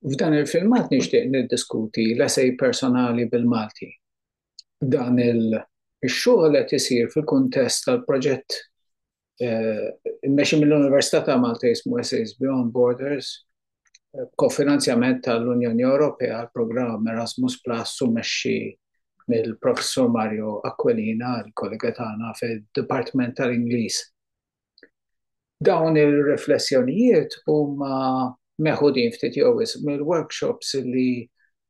F'dan il-filmat nixtieq niddiskuti l-esej personali bil-Malti. Dan il-xogħol qed isir fil-kuntest tal-proġett eh, immexxi mill-Università ta' Malta jismu Essays Beyond Borders, eh, kofinanzjament tal-Unjoni Ewropea għal programm Erasmus Plus u mexxi mill-Professur Mario Aquilina, l kollega tagħna fid-Dipartiment tal-Ingliż Dawn ir-riflessjonijiet huma meħudin ftit jew wisq mill-workshops li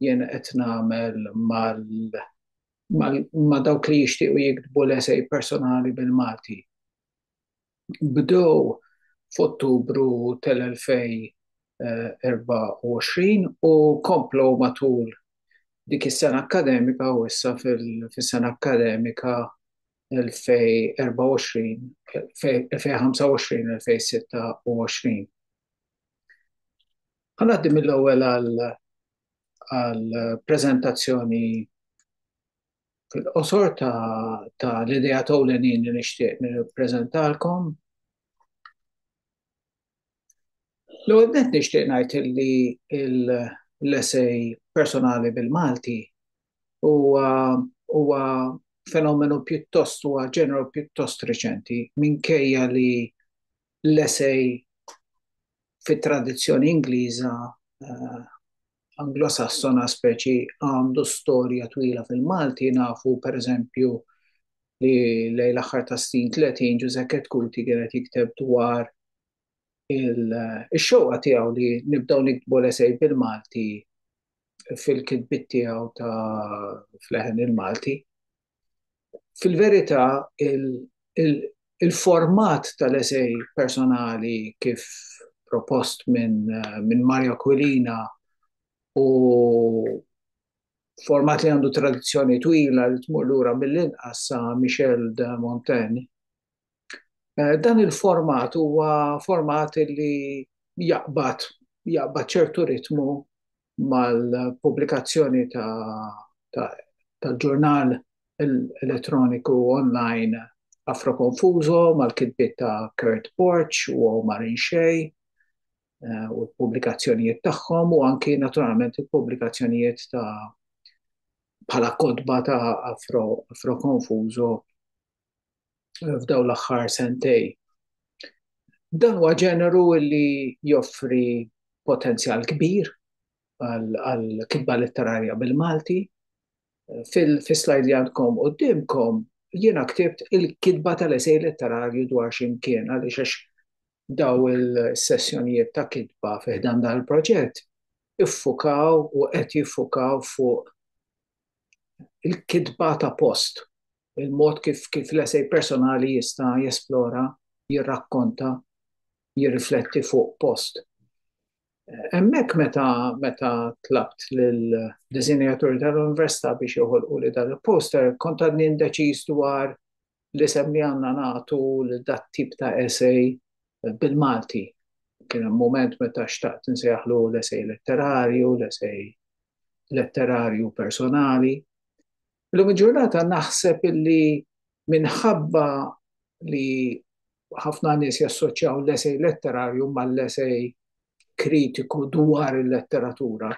jien qed nagħmel ma' dawk li jixtiequ jiktbu l-esej personali bil-Malti. Bdew f'Ottubru tal-2024 u komplew matul dik is-sena akkademika u issa fis-sena akkademika 2025-2026. Ħa ngħaddi mill-ewwel għall-preżentazzjoni fil-qosor tal-ideat ewlenin li nixtieq nippreżentalkom. L-ewwel nett nixtieq ngħid li l-essej personali bil-Malti huwa huwa fenomenu pjuttost huwa ġeneru pjuttost reċenti minkejja li l-essej fit-tradizzjoni Ingliża Anglosassona speċi għandu storja twila fil-Malti, nafu per eżempju li lejn l-aħħar ta' snin 30 Ġużekket Kuti kien qed jikteb dwar il-xewqa tiegħu li nibdew niktbu l-esej bil-Malti fil-kitbiet tiegħu ta' fleħen il-Malti. fil-verità il-format tal-esej personali kif propost minn min Mario Aquilina u format li għandu tradizzjoni twila li tmur lura mill-inqas sa Michel de Montaigne Dan il-format huwa format li jaqbad jaqbad ċertu ritmu mal-pubblikazzjoni tal-ġurnal elettroniku online Afroconfuso mal-kitbiet ta' Kurt Borg u Omar Inxei u l-pubblikazzjonijiet tagħhom u anki naturalment il-pubblikazzjonijiet ta' bħala kotba ta' Afroconfuso f'daw l-aħħar sentej. Dan huwa ġeneru li joffri potenzjal kbir għal kitba letterarja bil-Malti. Fil-slajd li għandkom u dimkom, jiena ktibt il-kitba tal-esej letterarju dwar ximkien, għaliex għax daw il-sessjonijiet ta' kitba fiħdan dan il-proġett iffukaw u qed jiffukaw fuq il-kitba ta' post Il-mod kif kif l-essej personali jista' jesplora, jirrakkonta, jirrifletti fuq post. Hemmhekk meta meta tlabt lill-disinjaturi tal-Università biex joħolqu li dan il-poster kont għadni indeċiż dwar l-isem li għandna nagħtu lil dat-tip ta' essej bil-Malti. Kien hemm mument meta xtaqt insejjaħlu l-essej letterarju, l-essej letterarju personali. Illum il-ġurnata naħseb illi minħabba li ħafna nies jassoċjaw l-esej letterarju mal-esej kritiku dwar il-letteratura,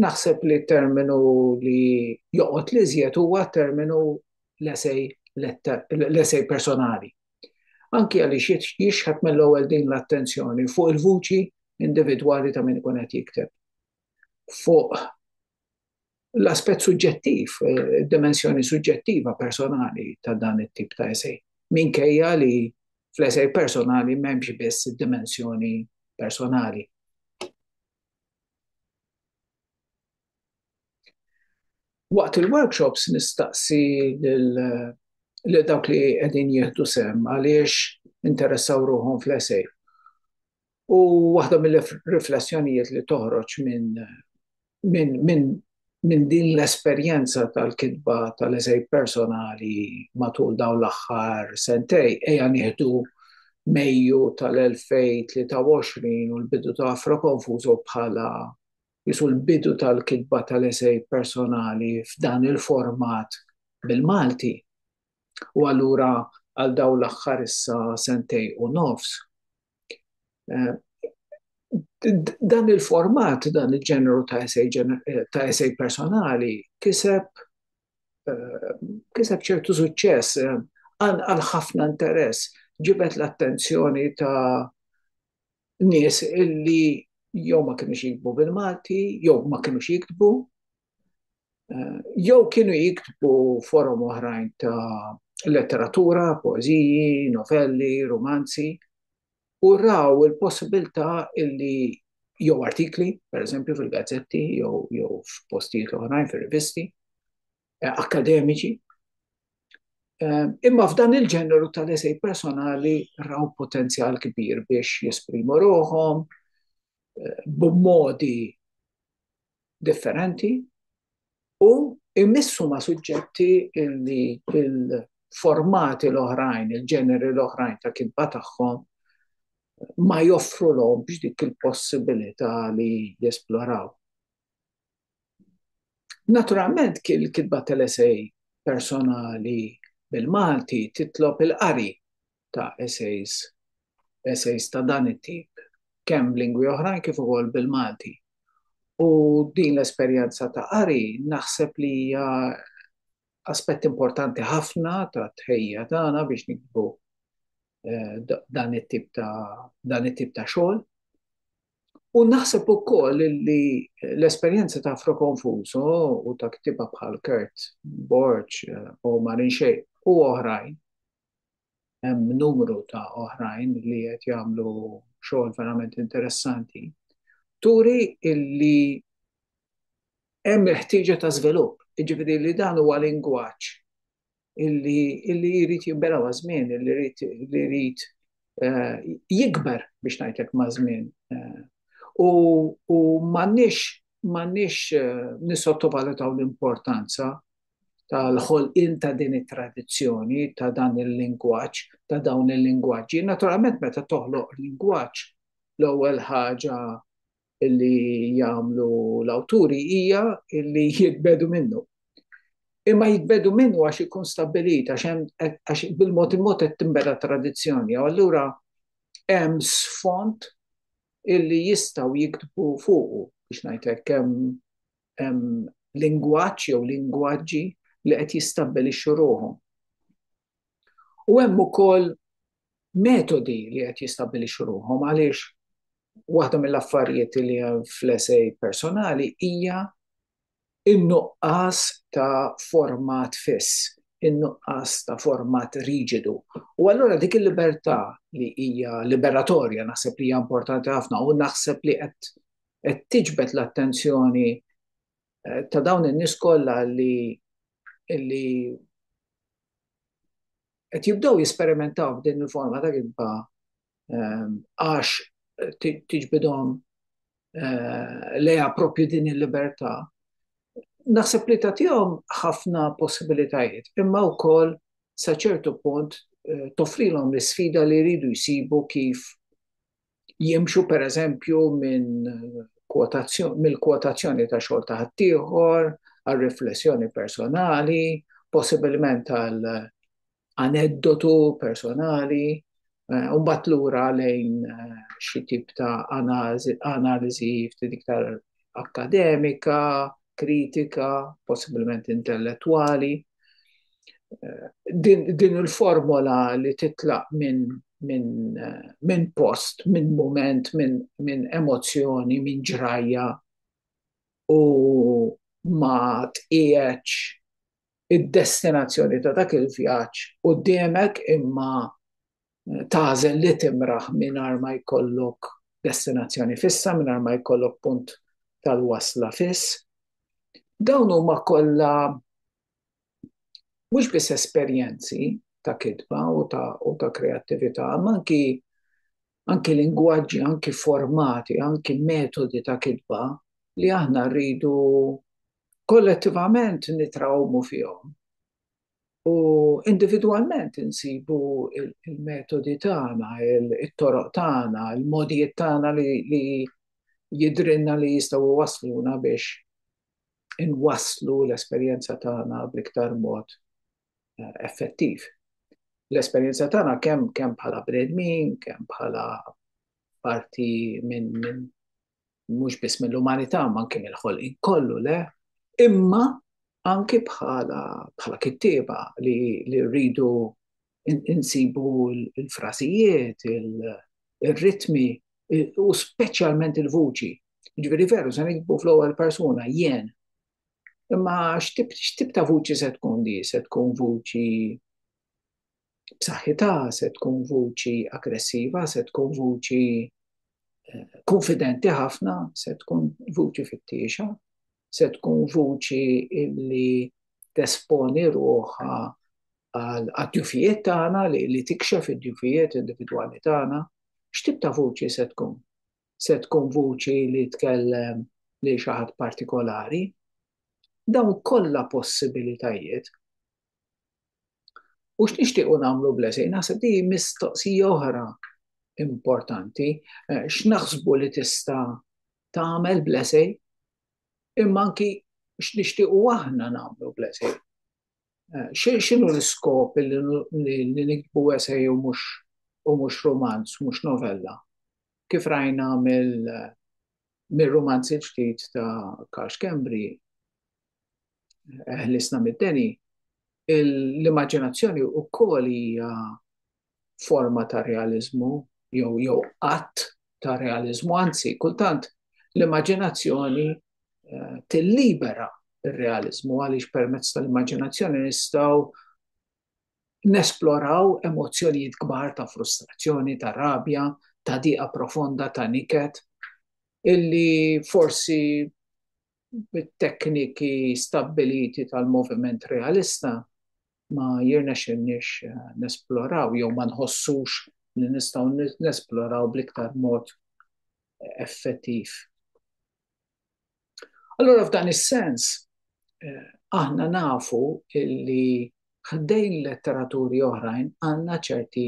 naħseb li t-terminu li joqgħod l-iżjed huwa t-terminu l-esej l-esej personali. Anki għaliex jixħet mill-ewwel din l-attenzjoni fuq il-vuċi individwali ta' min ikun qed jikteb, fuq l-aspett suġġettiv, id-dimensjoni suġġettiva personali ta' dan it-tip ta' esej. Minkejja li fl-esej personali m'hemmx biss id-dimensjoni personali. Waqt il-workshops nistaqsi lil dawk li qegħdin jieħdu sehem għaliex interessaw ruħhom fl-esej. U waħda mill-riflessjonijiet li toħroġ minn min, min, min din l-esperjenza tal-kitba tal-eżej personali matul daw l-aħħar sentej, eja nieħdu Mejju tal-2023 u l-bidu ta' Afro Konfużo bħala jisu l-bidu tal-kitba tal-eżej personali f'dan il-format bil-Malti. U allura għal dawn l-aħħar issa sentej u nofs. Eh, dan il-format, dan il-ġeneru ta' esej, eh, ta' esej personali, kiseb eh, kiseb ċertu suċċess għal ħafna interess ġibet l-attenzjoni ta' nies illi jew ma kienux jiktbu bil-Malti, jew ma kienux jiktbu, eh, jew kienu jiktbu forom oħrajn ta' letteratura, poeziji, novelli, romanzi, u raw il-possibilità illi jew artikli, per eżempju fil-gazzetti, jew, jew f'postijiet oħrajn, fil-rivisti, eh, akademiċi. Eh, imma f'dan il-ġeneru tal-esej personali raw potenzjal kbir biex jesprimu roħom, eh, b'modi differenti u jmissu ma' suġġetti li il-formati l-oħrajn, il-ġeneri l-oħrajn ta' kitba tagħhom ma joffru l-om biex dik il-possibilità li jesploraw. Naturalment kien il-kitba tal-esej personali bil-Malti titlob il-qari ta' essays, essays ta' dan it-tip, kemm b'lingwi oħrajn kif ukoll bil-Malti. U din l-esperjenza ta' qari naħseb li hija aspett importanti ħafna ta' tħejja tagħna biex nikbu eh, dan it-tip ta' dan it-tip ta' xogħol. U naħseb ukoll li l-esperjenza ta' Afro Confuso u ta' ktiba bħal Kurt Borg eh, u Marin Xej u oħrajn hemm numru ta' oħrajn li qed jagħmlu xogħol verament interessanti, turi illi hemm il-ħtieġa ta' żvilupp, jiġifieri li dan huwa lingwaġġ illi illi jrid jinbela ma' żmien, illi jrid li jrid eh, jikber biex ngħidlek ma' żmien. Eh. U, u m'għandniex m'għandniex eh, nisottovalutaw l-importanza tal-ħolqien ta' din it-tradizzjoni, ta' dan il-lingwaġġ, ta' dawn il-lingwaġġi. Naturalment meta toħloq lingwaġġ, l-ewwel ħaġa li jagħmlu l-awturi hija li jitbedu minnu. Imma jitbedu minnu għax ikun stabbilit għax bil-mod il-mod qed tinbeda tradizzjoni. Allura hemm sfond illi jistgħu jiktbu fuqu biex ngħidlek kemm lingwaġġ jew lingwaġġi li qed jistabbilixxu ruħhom. U hemm ukoll metodi li qed jistabbilixxu ruħhom għaliex waħda mill-affarijiet li hemm fl-esej personali hija in-nuqqas ta' format fiss, in-nuqqas ta' format riġidu. U allura dik il-libertà li hija liberatorja naħseb li hija importanti ħafna u naħseb li qed qed tiġbed l-attenzjoni ta' dawn in-nies kollha li li qed jibdew jesperimentaw b'din il-forma ta' kitba għax tiġbidhom lejha proprju din il-libertà, naħseb li tagħtihom ħafna possibilitajiet imma wkoll sa ċertu punt toffrilhom l-isfida li jridu jsibu kif jimxu per eżempju minn mill-kwotazzjoni ta' xogħol ta' ħaddieħor, għal riflessjoni personali, possibilment għal aneddotu personali, eh, u mbagħad lura lejn eh, xi tip ta' analiżi ftit iktar akademika, kritika, possibilment intellettwali. Eh, din, din il-formola li titlaq minn min, min post, minn moment, minn min emozzjoni, minn ġrajja u ma tqieċ id-destinazzjoni ta' dak il-vjaġġ quddiemek imma tagħżel li timraħ mingħajr ma jkollok destinazzjoni fissa, mingħajr ma jkollok punt tal-wasla fiss. Dawn huma kollha mhux biss esperjenzi ta' kitba u ta' kreattività, imma anki anki lingwaġġi, anki formati, anki metodi ta' kitba li aħna rridu kollettivament nitrawmu fihom u individwalment insibu l-metodi tagħna, it-toroq tagħna, il-mogħdijiet tagħna li jidhrilna li jistgħu jwassluna biex inwasslu l-esperjenza tagħna bl-iktar mod effettiv. L-esperjenza tagħna kemm kemm bħala bnedmin, kemm bħala parti minn min, mhux biss mill-umanità, ma anke mill-ħolqin kollu le, imma anke bħala bħala kittieba li, li rridu insibu l-frasijiet, il-ritmi u speċjalment il-vuċi. Ġifieri veru se nikbu fl-ewwel persuna jien Imma x'tip ta' vuċi se tkun di? Se tkun vuċi b'saħħitha, se tkun vuċi aggressiva, se tkun vuċi eh, konfidenti ħafna, se tkun vuċi fittiexa, se tkun vuċi illi tesponi ruħa għal-djufijiet tagħna li tikxef id-djufijiet individwali tagħna, x'tib ta' vuċi se tkun? se tkun vuċi li tkellem lil xi ħadd partikolari. Dawn kollha possibilitajiet. U x'nixtiequ nagħmlu blesej? Naħseb di mistoqsija oħra importanti. Eh, x'naħsbu li tista' tagħmel blesej? Imma anki x'nixtiequ aħna nagħmlu blesej? Eh, x'inhu l-iskop li nikbu esej u mhux u mhux romanz, mhux novella? kif rajna mill-rumanz il-ġdid ta' Karl Schembri, Ħlisna mid-deni, l-immaġinazzjoni wkoll hija forma ta' realiżmu jew jew qatt ta' realiżmu, anzi kultant l-immaġinazzjoni eh, tillibera ir-realiżmu għaliex permezz tal-immaġinazzjoni nistgħu Nesploraw emozzjonijiet kbar ta' frustrazzjoni, ta' rabja, ta' diqa profonda, ta' niket, illi forsi bit-tekniki stabbiliti tal-moviment realista ma jirnexxilniex nesploraw jew ma nħossux li nistgħu nesploraw bl-iktar mod effettiv. Allura f'dan is-sens eh, aħna nafu li ħdejn letteraturi oħrajn għandna ċerti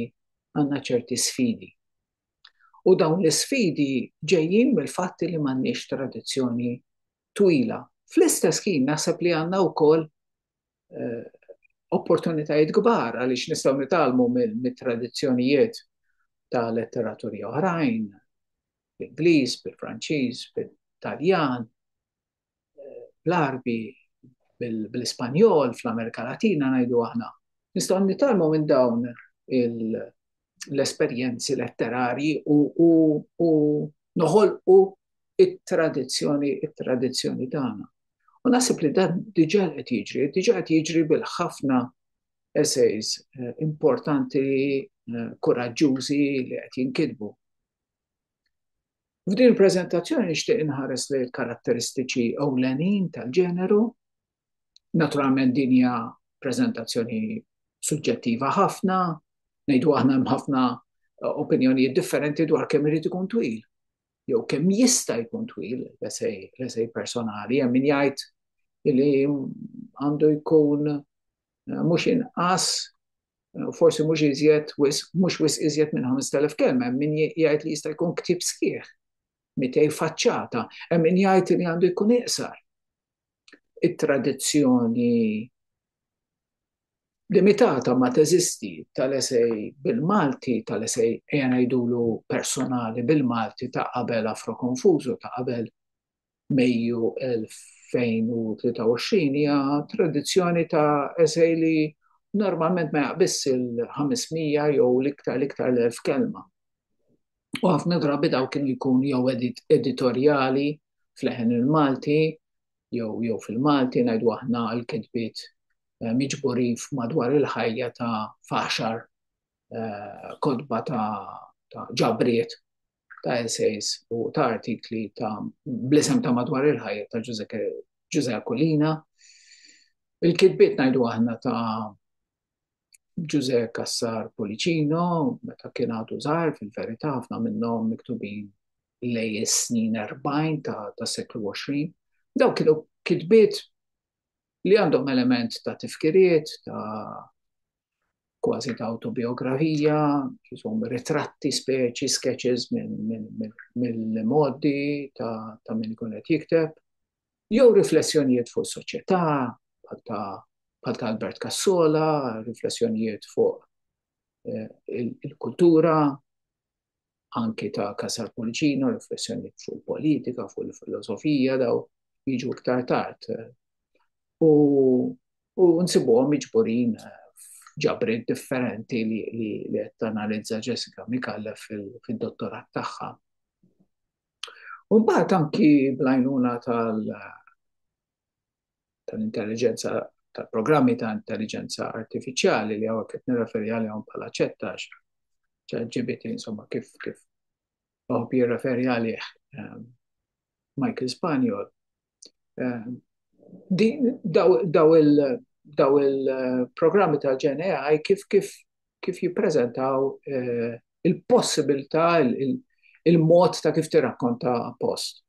għandna ċerti sfidi. U dawn l-sfidi ġejjin mill-fatti li m'għandniex tradizzjoni twila. Fl-istess kien naħseb li għandna wkoll eh, opportunitajiet kbar għaliex nistgħu nitalmu mit-tradizzjonijiet ta' letteraturi oħrajn, bl-Ingliż, bil-Franċiż, bil-Taljan, eh, bl-Arbi, bl-Ispanjol, fl-Amerika Latina ngħidu aħna. Nistgħu nitalmu minn dawn l-esperjenzi letterarji u noħolqu it-tradizzjoni, it-tradizzjoni tagħna. U nasib li dan diġà qed jiġri, diġà qed jiġri bil-ħafna essays eh, importanti, eh, kuraġġużi li qed jinkidbu. F'din il-preżentazzjoni nixtieq inħares lejn il-karatteristiċi ewlenin tal-ġeneru. Naturalment din hija preżentazzjoni suġġettiva ħafna, ngħidu aħna hemm ħafna eh, opinjonijiet differenti dwar kemm irid ikun twil. Jew kemm jista' jkun twil, l-esej personali, hemm min jgħid li għandu jkun mhux inqas, forsi mhux iżjed, mhux wis iżjed minn 5,000 kelma, min jgħid li jista' jkun ktib sħiħ, mitej faċċata, hemm min jgħid li għandu jkun iqsar. It-tradizzjoni limitata ma teżisti tal-esej bil-Malti, tal-esej ejja ngħidulu personali bil-Malti ta' qabel Afro Konfużu, ta' qabel Mejju 2023 hija tradizzjoni ta' esej li normalment ma jaqbis il-500 jew l-iktar l-iktar l-1000 kelma. U ħafna drabi daw kienu jkun jew editorjali fl-eħen il-Malti, jew jew fil-Malti ngħidu aħna l-kitbiet eh, miġburin madwar il-ħajja ta' faxar eh, kodba ta' ġabriet ta' essays u ta' artikli ta' blisem ta' madwar il-ħajja ta' Ġuże Akulina. Il-kitbiet ngħidu aħna ta' Ġuże Kassar Policino, meta kien għadu żgħar fil-verità ħafna minnhom miktubin lej is-snin 40 ta' seklu 20. Daw kienu kitbiet li għandhom element ta' tifkiriet, ta' kważi ta' autobiografija, jisom ritratti speċi, sketches mill-modi ta' min ikun qed jikteb, jew riflessjonijiet fuq soċjetà bħal ta' Albert Cassola, riflessjonijiet fuq eh, il-kultura, anki ta' Casar Policino, riflessjoni fuq il-politika, fuq il-filosofija daw jiġu iktar tard. U, u nsibuhom miġburin ġabrit differenti li, li, li tanalizza Jessica Mikalla fil-dottorat tagħha. U mbagħad anki blajnuna tal tal-intelligenza tal-programmi ta' intelligenza artifiċjali li għawek qed nirreferi għalihom bħala ċettax, ċaġibiti insomma kif kif għawb jirreferi għalih ehm, Michael Spaniel. Ehm, daw il-programmi eh, tal-ġen AI kif kif kif jippreżentaw eh, il-possibilità, il-mod ta' kif tirrakkonta post.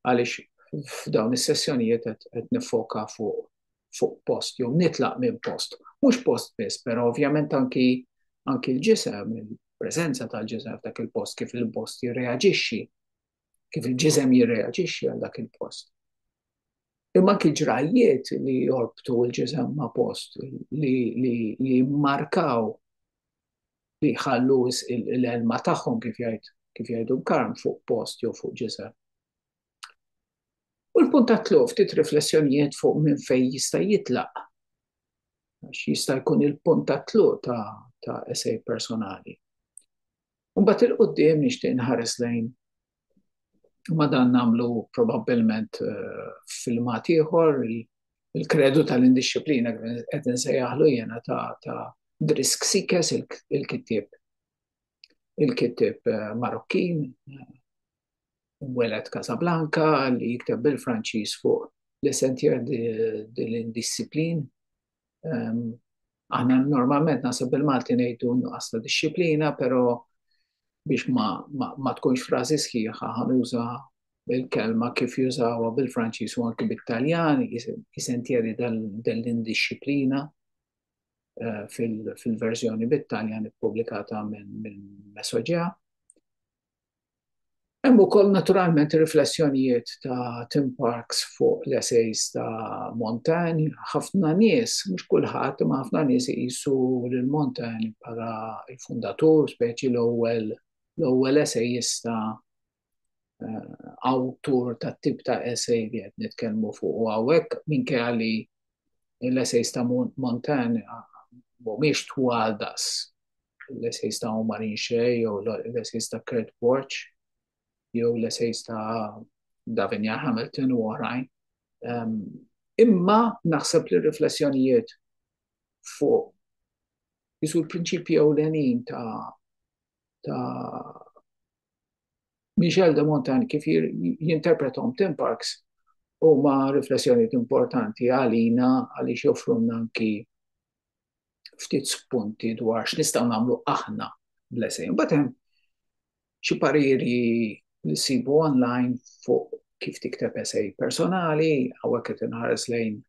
għaliex f'dawn is-sessjonijiet qed nifoka fuq fuq post jew nitlaq minn post. Mhux post biss, però ovvjament anki anki l-ġisem, il-preżenza tal-ġisem f'dak il-post kif il-post jirreaġixxi, kif il-ġisem jirreaġixxi għal dak il-post. Imma anki ġrajjiet li jorbtu l-ġisem ma' post li, li, li markaw li jħallu l-ilma tagħhom kif jgħid kif jgħidu l-karm fuq post jew fuq ġisem. U l-punt ta' tluq ftit riflessjonijiet fuq minn fejn jista' jitlaq. Għax jista' jkun il-punt ta' tluq ta' ta' esej personali. Mbagħad il-qudiem nixtieq nħares lejn Ma dan nagħmlu probabbilment eh, filmat ieħor il-kredu tal-indixxiplina qed insejjaħlu jiena ta' ta' Drisk Sikes il-kittib il-kittib eh, Marokkin eh, welet Casablanca li jikteb bil-Franċiż fuq l-essentjer dil-indisciplin Aħna normalment nasib bil-Malti ngħidu nuqqas ta' disċiplina, però biex ma, ma, ma tkunx frażi sħiħa ħanuża il-kelma kif jużawa bil-Franċiż u anki bit-Taljan, jisentjeri dell-indisciplina eh, fil-verżjoni bit-Taljan ippubblikata minn Mesoġea. Hemm ukoll naturalment ir-riflessjonijiet ta' Tim Parks fuq l-essays ta' Montaigne. Ħafna nies, mhux kulħadd, imma ħafna nies iqisu lil Montaigne bħala l-fundatur, speċi l-ewwel l-ewwel essejista eh, awtur tat-tip ta' essay li qed nitkellmu fuq hawnhekk minkejja li l-essays ta' Montan mhumiex twal daqs l-essays ta' Omar Inxe jew l-essays ta' Kurt Borch jew l-essays ta' Davinia Hamilton u oħrajn. Ehm, imma naħseb li riflessjonijiet fuq jisu l-prinċipji ewlenin ta' ta' Michel de Montaigne kif jinterpretom Tim Parks huma riflessjonijiet importanti għalina għaliex joffrunna anki ftit spunti dwar x'nistgħu nagħmlu aħna bl-esej. Imbagħad hemm xi pariri li sibu online fuq kif tikteb esej personali, hawnhekk qed inħares lejn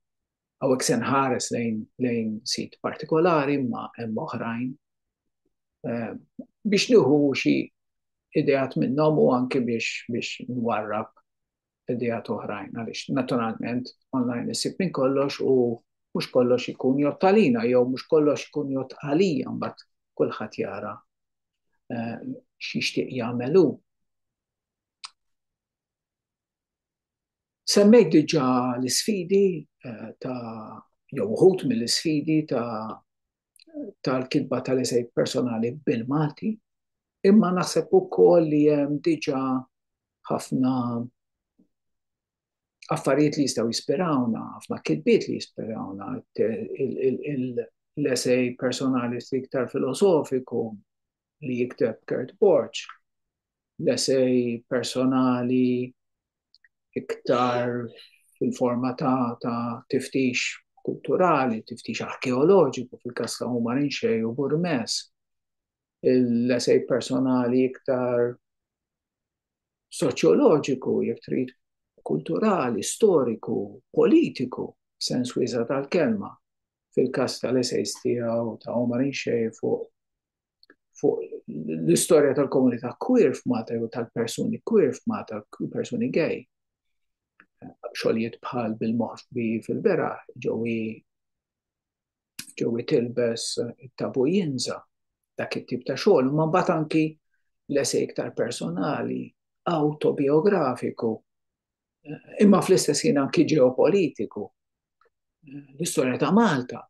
Hawnhekk se nħares lejn lejn sit partikolari imma hemm oħrajn biex nieħu xi ideat minnhom u anke biex biex nwarrab ideat oħrajn għaliex naturalment online issib minn kollox u mhux kollox ikun jott għalina jew mhux kollox ikun jott għalija mbagħad kulħadd jara x'jixtieq jagħmel hu. Semmejt diġà l-isfidi eh, ta' jew uħut mill-isfidi ta' tal-kitba tal-esej personali bil-Malti, imma naħseb ukoll li hemm diġà ħafna affarijiet li jistgħu jispirawna, ħafna kitbiet li jispirawna, l-esej personali iktar filosofiku li jikteb Kurt Borch, l-esej personali iktar fil-forma ta' tiftix kulturali, tiftix arkeoloġiku fil-kas ta' Huma Rinxej u Burmes, l-esej personali iktar soċjoloġiku, jek trid kulturali, storiku, politiku, sens wiesa' tal-kelma, fil-kas tal-esejs tiegħu ta' Huma Rinxej fuq fuq l-istorja tal-komunità queer f'Malta jew tal-persuni queer f'Malta, persuni gay. Xogħlijiet bħal bil-moħbi fil-bera, ġewi ġewi tilbes tabu jinza dak it-tip ta' xogħol, ma mbagħad anki l-esej iktar personali, autobiografiku imma fl-istess ħin anki ġeopolitiku. L-istorja ta' Malta,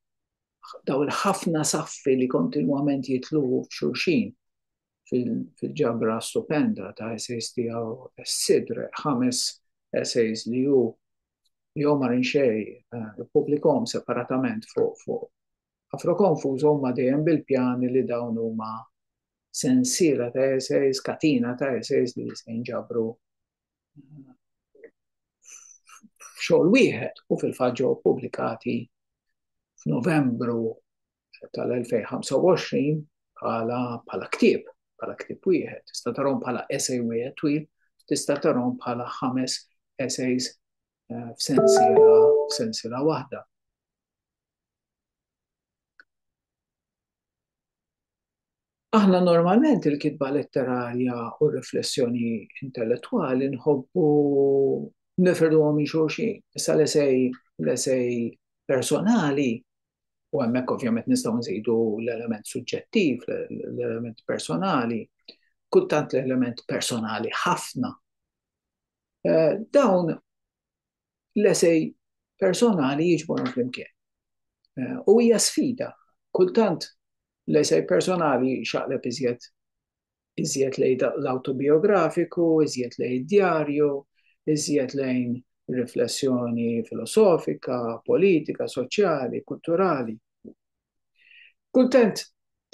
daw il-ħafna saffi li kontinwament jitlu f'xulxin fil-ġabra stupenda ta' essays tiegħu s-sidre, ħames essays li hu li Omar Inxej eh, publikom separatament fuq fuq Afrokonfus huma dejjem bil-pjani li dawn huma sensiela ta' essays, katina ta' essays li se jinġabru f'xogħol wieħed u fil-fatt ġew pubblikati f'Novembru tal-2025 bħala bħala ktieb, bħala ktieb wieħed, tista' tarhom bħala essay wieħed twil, tista' tarhom bħala ħames essays eh, f'sensiela f'sensiela waħda. Aħna normalment il-kitba letterarja u r-riflessjoni intellettwali nħobbu nifirduhom minn xulxin. Issa l-esej, l-esej personali, u hemmhekk ovvjament nistgħu nżidu l-element suġġettiv, l-element personali, kultant l-element personali ħafna, dawn l-esej personali jiġborhom flimkien. Eh, u hija sfida, kultant l-esej personali xaqleb iżjed iżjed lejn l-autobiografiku, iżjed lejn djarju, iżjed lejn riflessjoni filosofika, politika, soċjali, kulturali. Kultant,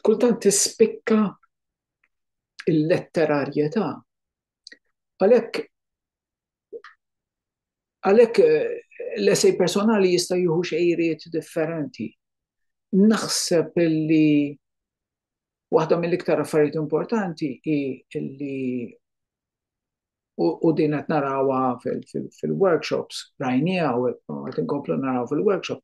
kultant tispikka il-letterarjetà. Għalhekk Għalhekk l-essej personali jista' jieħu xejriet differenti. Naħseb li waħda mill-iktar affarijiet importanti hi li u din qed narawha fil-workshops, rajniha u qed inkomplu naraw fil-workshop.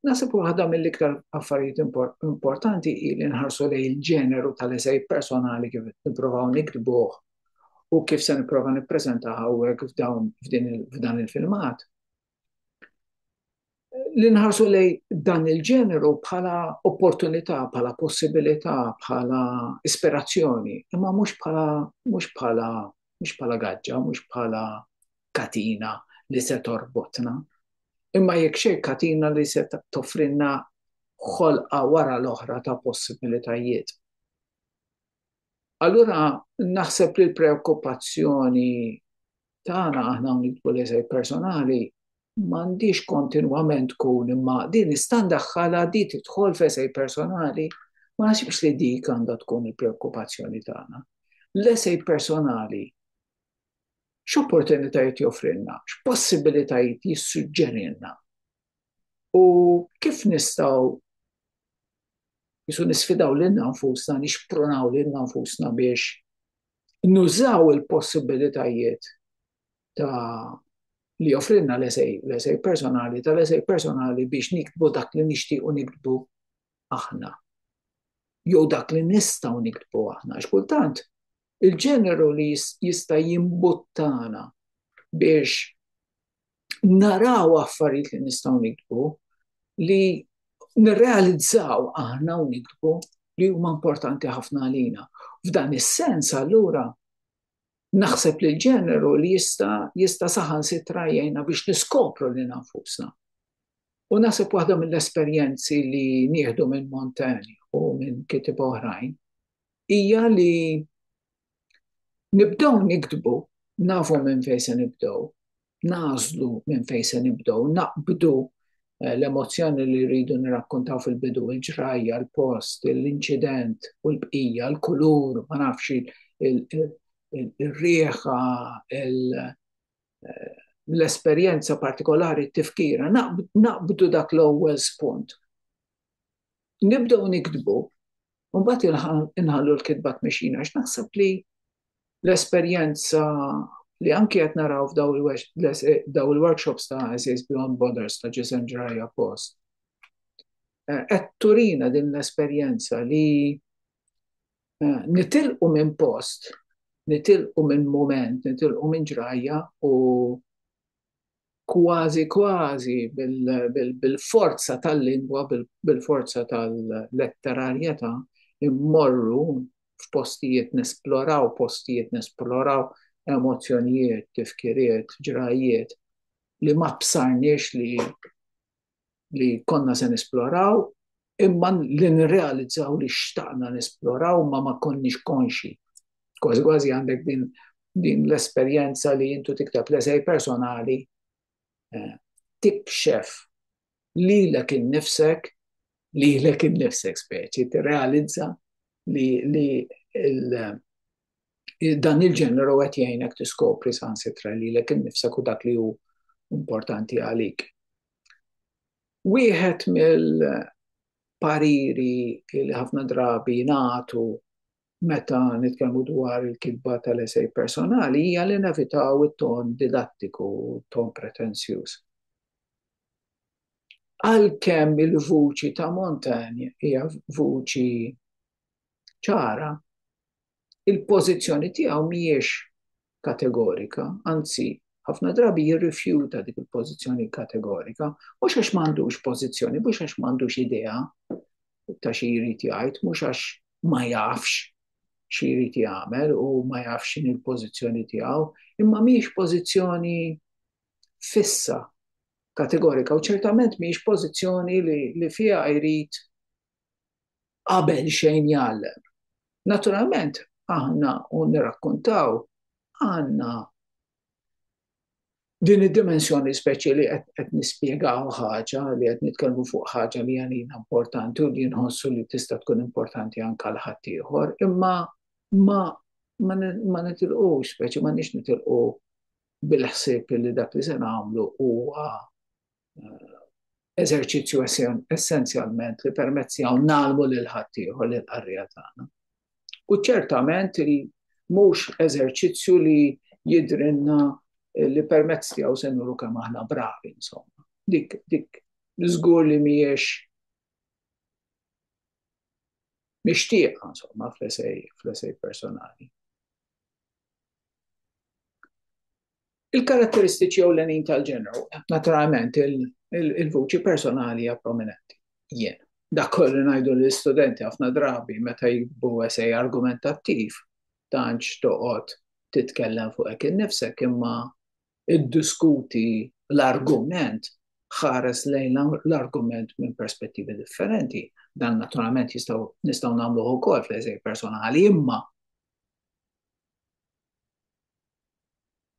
Naħseb waħda mill-iktar affarijiet importanti hi li nħarsu lejn il-ġeneru tal-esej personali kif nipprovaw nikdbuh u kif se nipprova nippreżenta hawnhekk f'dawn f'dan il-filmat li nħarsu lej dan il-ġeneru bħala opportunità, bħala possibilità, bħala ispirazzjoni, imma mhux bħala mhux bħala mhux bħala gaġġa, mhux bħala katina li se torbotna. Imma jekk xejn katina li se toffrinna ħolqa wara l-oħra ta' possibilitajiet. Allura naħseb li l-preokkupazzjoni tagħna aħna hawn nidħlu l-eżej personali m'għandix kontinwament tkun imma din nista' ndaħħalha di tidħol f'eżej personali ma naħsibx li dik għandha tkun il-preokkupazzjoni tagħna. L-eżej personali x'opportunitajiet joffrilna, x'possibilitajiet jissuġġerilna u kif nistgħu Jisu nisfidaw lilna nfusna, nixprunaw lilna nfusna biex nużaw il-possibilitajiet ta' li joffrilna l-esej, l-esej personali, tal-esej personali biex niktbu dak li nixtiequ niktbu aħna. Jew dak li nistgħu niktbu aħna. X'kultant il-ġeneru li jista' jimbuttana biex naraw affarijiet li nistgħu nikbu li nirrealizzaw aħna u nikbu li huma importanti ħafna għalina. F'dan is-sens allura naħseb li l-ġeneru li jista' jista' saħan sitra jgħinna biex niskopru li nafusna. U naħseb waħda mill-esperjenzi li nieħdu minn Montaigne u minn kitib oħrajn hija li Nibdew niktbu, nafu minn fejn se nibdew, nagħżlu minn fejn se nibdew, naqbdu l-emozzjoni li rridu nirrakkuntaw fil-bidu, il-ġrajja, il-post, l-inċident u l-bqija, l-kulur, ma nafx, ir-riħa, l-esperjenza partikolari, t-tifkira, naqbdu dak l-ewwel spunt. nibdew niktbu, u mbagħad inħallu l-kitba tmexxina għax naħseb li l-esperjenza li anki qed naraw f'daw il-workshops ta' Essays Beyond Borders ta' Ġisem Ġrajja Post. Eh, qed turina din l-esperjenza li eh, nitilqu minn post, nitilqu minn moment, nitilqu minn ġrajja u kważi kważi bil-forza tal-lingwa, bil-forza tal-letterarjetà, immorru f'postijiet, nesploraw postijiet, nesploraw emozzjonijiet, tifkiriet, ġrajjiet li ma bsarniex li li konna se nisploraw imma li nirrealizzaw li xtaqna nisploraw ma ma konniex konxi. Kważi kważi għandek din, din l-esperjenza li jintu tikteb l-esej personali eh, tikxef li l innifsek li l innifsek speċi, tirrealizza li, li dan il-ġeneru qed jgħinek tiskopri sansitra lilek innifsek u dak li hu importanti għalik. Wieħed mill-pariri li ħafna drabi jingħatu meta nitkellmu dwar il-kitba tal-esej personali hija li nevitaw it-ton didattiku, ton pretenzjuż. Għalkemm il-vuċi ta' Montagne hija vuċi ċara, il-pożizzjoni tiegħu mhijiex kategorika, anzi ħafna drabi jirrifjuta dik il-pożizzjoni kategorika, mhux għax m'għandux pożizzjoni, mhux għax m'għandux idea ta' xi jrid jgħid, mhux għax ma jafx xi jrid jagħmel u ma jafx x'in il-pożizzjoni tiegħu, imma mhijiex pożizzjoni fissa kategorika u ċertament mhijiex pożizzjoni li, li fiha jrid qabel xejn jgħallem. Naturalment, aħna u nirrakkuntaw għandna din id-dimensjoni speċi li qed nispjegaw ħaġa li qed nitkellmu fuq ħaġa li għalina importanti u li nħossu li tista' tkun importanti anke l ħaddieħor, imma ma ma nitilqu speċi ma nix nitilqu bil-ħsieb li dak li se nagħmlu huwa eżerċizzju essenzjalment li permezz tiegħu nagħlmu lil ħaddieħor lil qarrija tagħna. U ċertament li mhux eżerċizzju li jidrinna li permezz tiegħu se nuru kemm aħna bravi insomma. Dik dik żgur li mhijiex mixtieqa insomma fl-esej fl-esej personali. Il-karatteristiċi ewlenin tal-ġeneru, naturalment il-vuċi personali hija prominenti. Jien, dak kollu ngħidu lill-istudenti ħafna drabi meta jikbu esej argumentattiv, tantx toqgħod titkellem fuq hekk innifsek imma iddiskuti l-argument, ħares lejn l-argument minn perspettivi differenti. Dan naturalment jistgħu nistgħu nagħmluh ukoll fl-eżej personali imma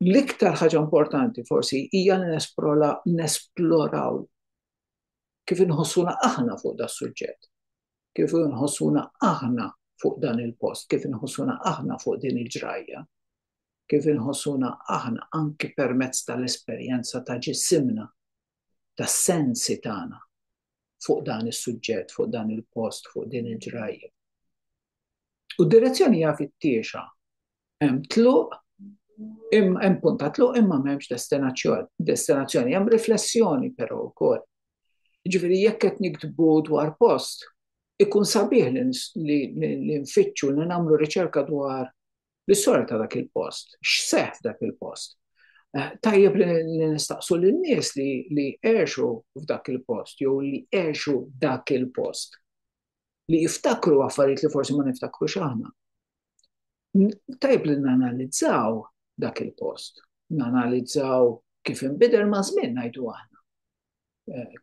L-iktar ħaġa importanti forsi hija li nesploraw kif inħossuna aħna fuq da suġġett, kif inħossuna aħna fuq dan il-post, kif inħossuna aħna fuq din il-ġrajja, kif inħossuna aħna anki permezz tal-esperjenza ta' ġisimna, tas-sensi tagħna, fuq dan is-suġġett, fuq dan il-post, fuq din il-ġrajja. U d-direzzjoni hija fit-tiexa. Hemm tluq, hemm punta tluq imma m'hemmx destinazzjoni. Destinazzjoni hemm riflessjoni però wkoll. Ġifieri jekk qed niktbu dwar post, ikun sabiħ li nfittxu li nagħmlu riċerka dwar L-istoria ta' dak il-post, x'seħħ f'dak il-post. Tajjeb li nistaqsu lin-nies li għexu f'dak il-post jew li għexu dak il-post li jiftakru affarijiet li forsi ma niftakrux aħna. Tajjeb li nanalizzaw dak il-post, nanalizzaw kif inbidel maż-żmien ngħidu aħna.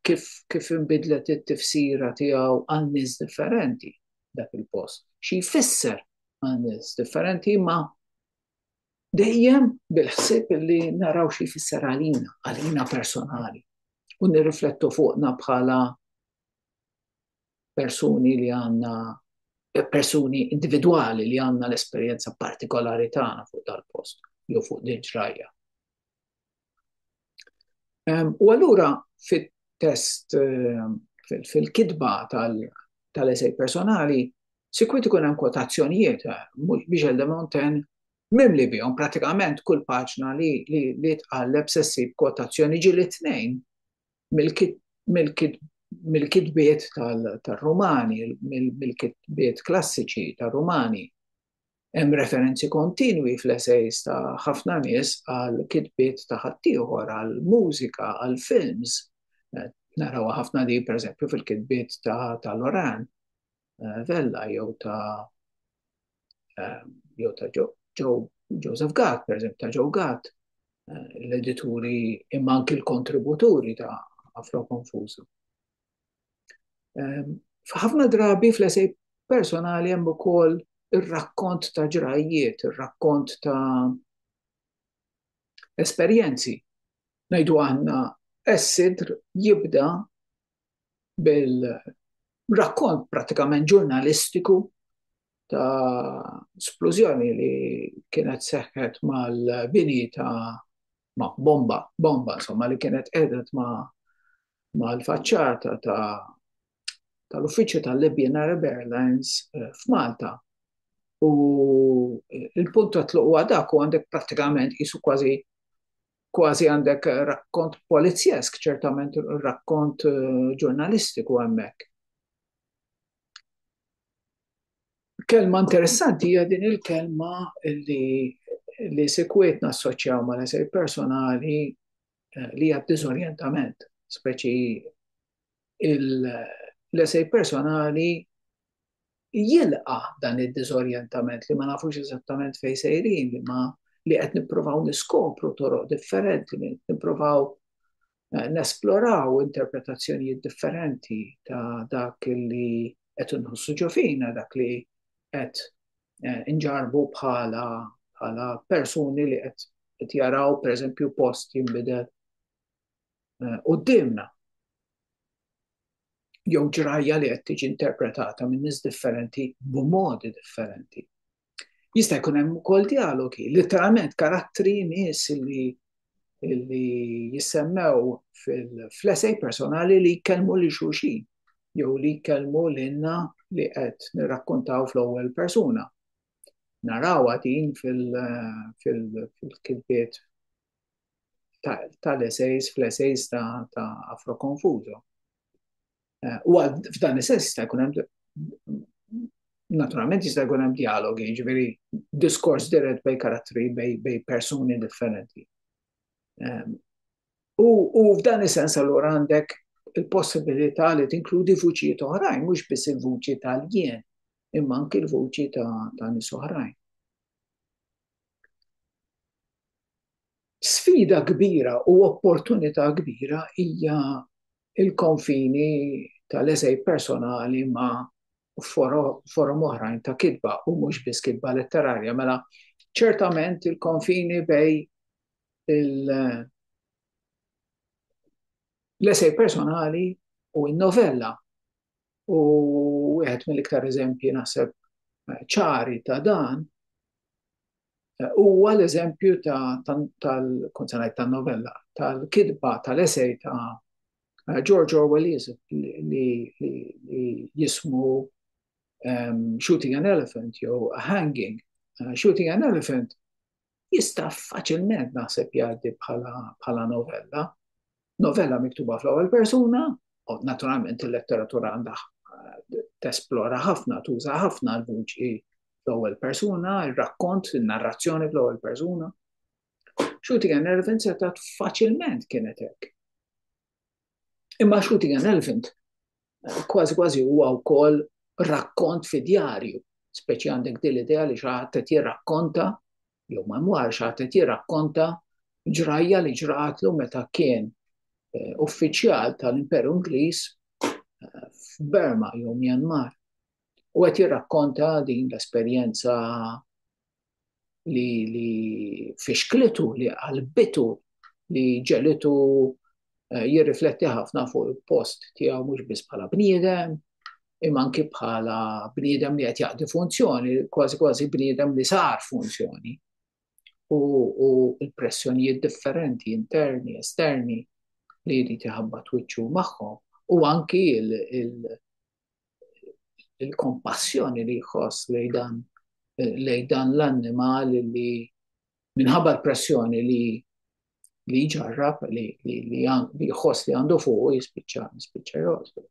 kif, kif inbidlet it-tifsira tiegħu għal nies differenti dak il-post. Xi jfisser għal nies differenti ma dejjem bil-ħsieb li naraw xi jfisser għalina, għalina personali. U nirriflettu fuqna bħala persuni li għanna persuni individuali li għanna l-esperienza partikolari tagħna fuq dal-post jew fuq din ġrajja. U allura fit-test fil-kitba tal-esej personali, sikwit ikun hemm kwotazzjonijiet, Michel de Montaigne mimli bihom pratikament kull paġna li tqalleb se ssib kwotazzjoni ġieli tnejn mill-kitbiet tar-Rumani, mill-kitbiet klassiċi tar-Rumani. Hemm referenzi kontinwi fl-esejs ta' ħafna nies għal kitbiet ta' ħaddieħor, għal mużika, għal films. Narawha ħafna di, pereżempju, fil-kitbiet ta' Loran eh, Vella jew ta' eh, jew ta' Joseph Gatt, pereżempju ta' Joe Gatt, eh, l-edituri imma anki l-kontributuri ta' Afro Konfużu. Ehm, f'ħafna drabi fl-esej personali hemm ukoll ir-rakkont ta' ġrajjiet, ir-rakkont ta' esperjenzi. Ngħidu għandna s-sidr jibda bil-rakkont pratikament ġurnalistiku ta' splużjoni li kienet seħħet mal-bini ta' ma' bomba, bomba insomma li kienet qedet ma' ma' l-faċċata tal-uffiċċju tal-Libyan Arab Airlines eh, f'Malta. U eh, il-punt ta' tluq huwa dak u għandek prattikament qisu kważi kważi għandek rakkont polizjesk, ċertament rakkont eh, ġurnalistiku hemmhekk. Kelma interessanti hija din il-kelma li li sekwiet nassoċjaw ma' l-esej personali eh, li hija diżorjentament, speċi l-esej personali jilqa dan id-diżorjentament li ma nafux eżattament fejn sejrin li ma li qed nippruvaw niskopru toroq differenti, nippruvaw nesploraw interpretazzjonijiet differenti ta' dak li qed inħossu ġofina, dak li qed eh, inġarbu bħala bħala persuni li qed jaraw pereżempju post jinbidel eh, qudiemna. Jew ġrajja li qed tiġi interpretata minn nies differenti b'modi differenti. Jista' jkun hemm ukoll dialogi, literalment karattri nies li li jissemmew fil-flesej personali li jkellmu li xulxin jew li jkellmu lilna li qed nirrakkontaw fl-ewwel persuna. Narawha din fil-kitbiet tal-esejs, fl-esejs ta' Afro Confuso. Eh, u għal f'dan is-sens jista' jkun hemm naturalment jista' jkun hemm dialogi, ġifieri diskors dirett bej karattri bej persuni differenti. Ehm, u f'dan is-sens allura għandek il-possibilità li tinkludi vuċijiet oħrajn, mhux biss il-vuċi tal-jien, imma anki l-vuċi ta' nies oħrajn. Sfida kbira u opportunità kbira hija l-konfini tal-eżegħ personali ma' forom oħrajn ta' kitba, u mhux biss kitba letterarja. Mela, ċertament il-konfini bejn l-eżegħ personali u n-novella, u wieħed mill-iktar eżempji naħseb ċari ta' dan, huwa l-eżempju tal-novella, tal-kitba, tal-esej ta' George Orwell li jismu Shooting an Elephant jew Hanging. Shooting an Elephant jista' faċilment naħseb jgħaddi bħala novella. Novella miktuba fl-ewwel persuna, u naturalment il-letteratura għandha eh, tesplora ħafna, tuża ħafna l-vuċi fl-ewwel persuna, ir-rakkont, in-narrazzjoni fl-ewwel persuna. Xuti għan Elvin setat faċilment kienet hekk. Imma xuti għan Elvin eh, kważi kważi huwa wkoll rakkont fi djarju, speċi għandek dil idea li xaħat qed jirrakkonta jew ma jmorx għad qed jirrakkonta ġrajja li ġratlu meta kien eh, uffiċjal tal-Imperu Ingliż eh, f'Burma jew Myanmar. U qed jirrakkonta din l-esperjenza li, li fixklitu, li qalbitu, li ġelitu eh, jirrifletti ħafna fuq il-post tiegħu mhux biss bħala bniedem, imma anki bħala bniedem li qed jaqdi funzjoni, kważi kważi bniedem li sar funzjoni. U, u l-pressjonijiet differenti, interni, esterni, li jrid iħabba twiċċu magħhom u anki il-kompassjoni li jħoss lej dan lej dan l-annimal li minħabba l-pressjoni li li jġarrab li jħoss li għandu fuq jispiċċa jispiċċa jgħożbu.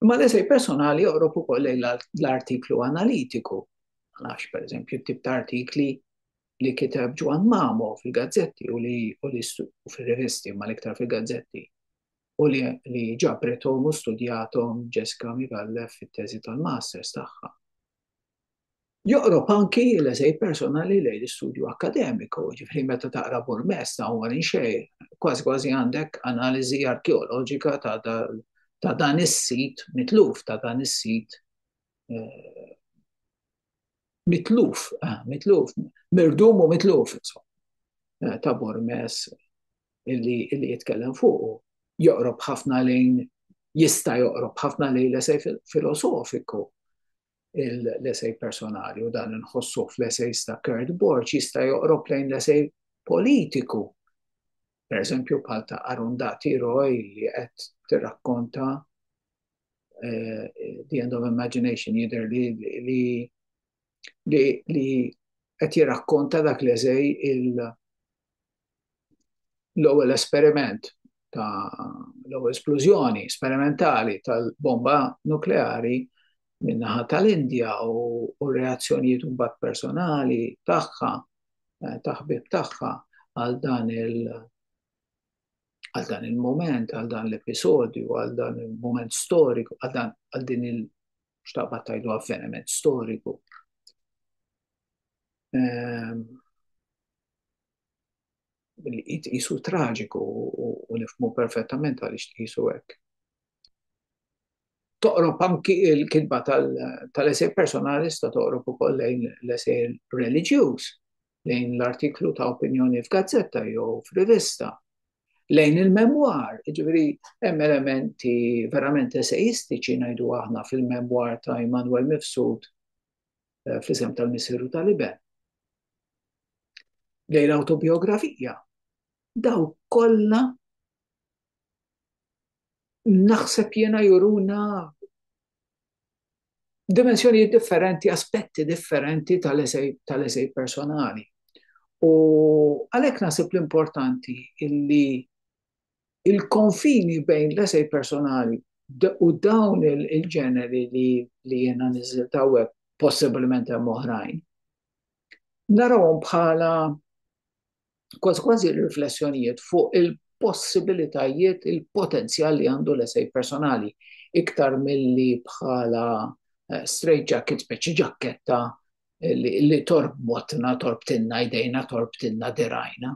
Imma l-esej personali joqrob ukoll lejn l-artiklu analitiku. Għax, per eżempju, tip ta' artikli li kiteb Ġwan Mamo fil-gazzetti u li fil-revisti ma l-iktar fil-gazzetti u li ġapretom u studjatom Jessica Migallef fit-teżi tal-masters tagħha. Joqrob anki l-eżej personali lejn l-istudju akkademiku, ġifieri meta taqra burmess ta' Omar Inxeir, kważi kważi għandek analiżi arkeoloġika ta' dan is-sit mitluf, ta' dan is-sit mitluf, mitluf, mirdum u mitluf, insomma, ta' burmess illi jitkellem fuqu. Joqrob ħafna lejn, jista' joqrob ħafna lejn l-eżej filosofiku. l-esej personali u dan nħossu fl-esejs ta' Kurt Borg jista' joqrob lejn l-esej politiku. Per eżempju, bħal ta' Arundati Roy li qed tirrakkonta eh, The End of Imagination jidher li li li li qed jirrakkonta dak l-eżej l-ewwel esperiment ta' l-ewwel splużjoni sperimentali tal-bomba nukleari min-naħa tal-Indja u reazzjonijiet mbagħad personali tagħha eh, ta' ħbib tagħha għal dan il- għal dan il-moment, għal dan l-episodju, għal dan il-moment storiku, għal dan għal din il xtaqbat tajdu avveniment storiku. Ehm, li jitqisu traġiku u nifmu perfettament għaliex tqisu hekk. Toqrob anki il-kitba tal-esej personali sta toqrob ukoll lejn l-esej reliġjuż, lejn l-artiklu ta' opinjoni f'gazzetta jew f'rivista, lejn il-memwar, ġifieri hemm elementi verament esejistiċi ngħidu aħna fil-memwar ta' Immanuel Mifsud eh, fl-isem tal-Missier u tal-Iben. Lej l-autobiografija, daw kollha naħseb jena juruna dimensjoni differenti, aspetti differenti tal-esej personali. U għalek nasib l-importanti illi il-konfini bejn l-esej personali u dawn il-ġeneri li jiena niżilt hawnhekk, possibilment hemm oħrajn, narahom bħala kważi kważi riflessjonijiet fuq il-possibilitajiet, il-potenzjal li għandu l-esej personali, iktar milli bħala straight jacket, speċi ġakketta li torbotna, torbtilna jdejna, torbtilna dirgħajna.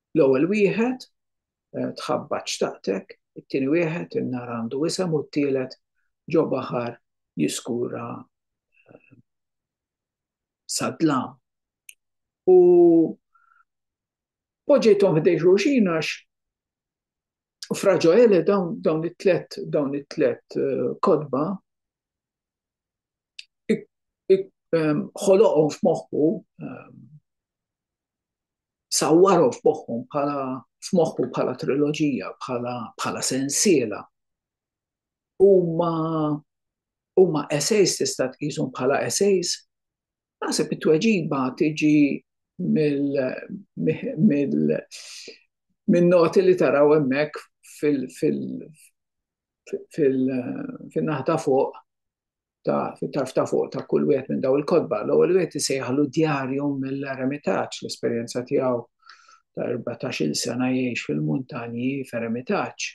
L-ewwel wieħed, tħabbat xtaqtek, it-tieni wieħed, in-nar għandu isem u t-tielet, ġo baħar jiskura sad-dlam. U poġġejthom ħdej xulxin għax Fra Ġoele dawn it-tlet dawn it-tlet eh, kodba ħoloqhom f'moħħu sawwarhom f'moħħhom bħala f'moħħu bħala triloġija, bħala bħala sensiela. Huma huma essays tista' tqishom bħala essays. Naħseb it-tweġiba tiġi mill-noti li taraw hemmhekk fil-naħta fuq ta' fit-tarf ta' fuq ta' kull wieħed minn daw il-kotba. L-ewwel wieħed isejħlu djarju mill-eremitaġġ l-esperjenza tiegħu ta' 14-il sena jgħix fil-muntanji f'eremitaġġ.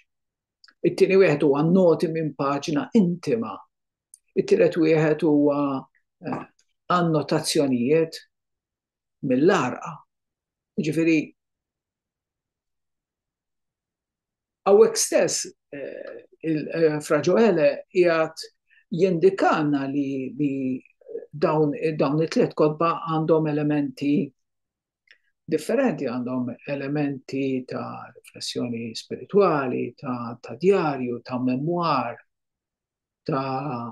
It-tieni wieħed huwa noti minn paġna intima. It-tielet wieħed huwa eh, annotazzjonijiet mill-għarqa. Jiġifieri hawnhekk stess eh, eh, Fra Ġoele jgħat jindikana li, li dawn, dawn it-tliet kodba għandhom elementi differenti, għandhom elementi ta' riflessjoni spirituali, ta', ta djarju, ta' memwar, ta'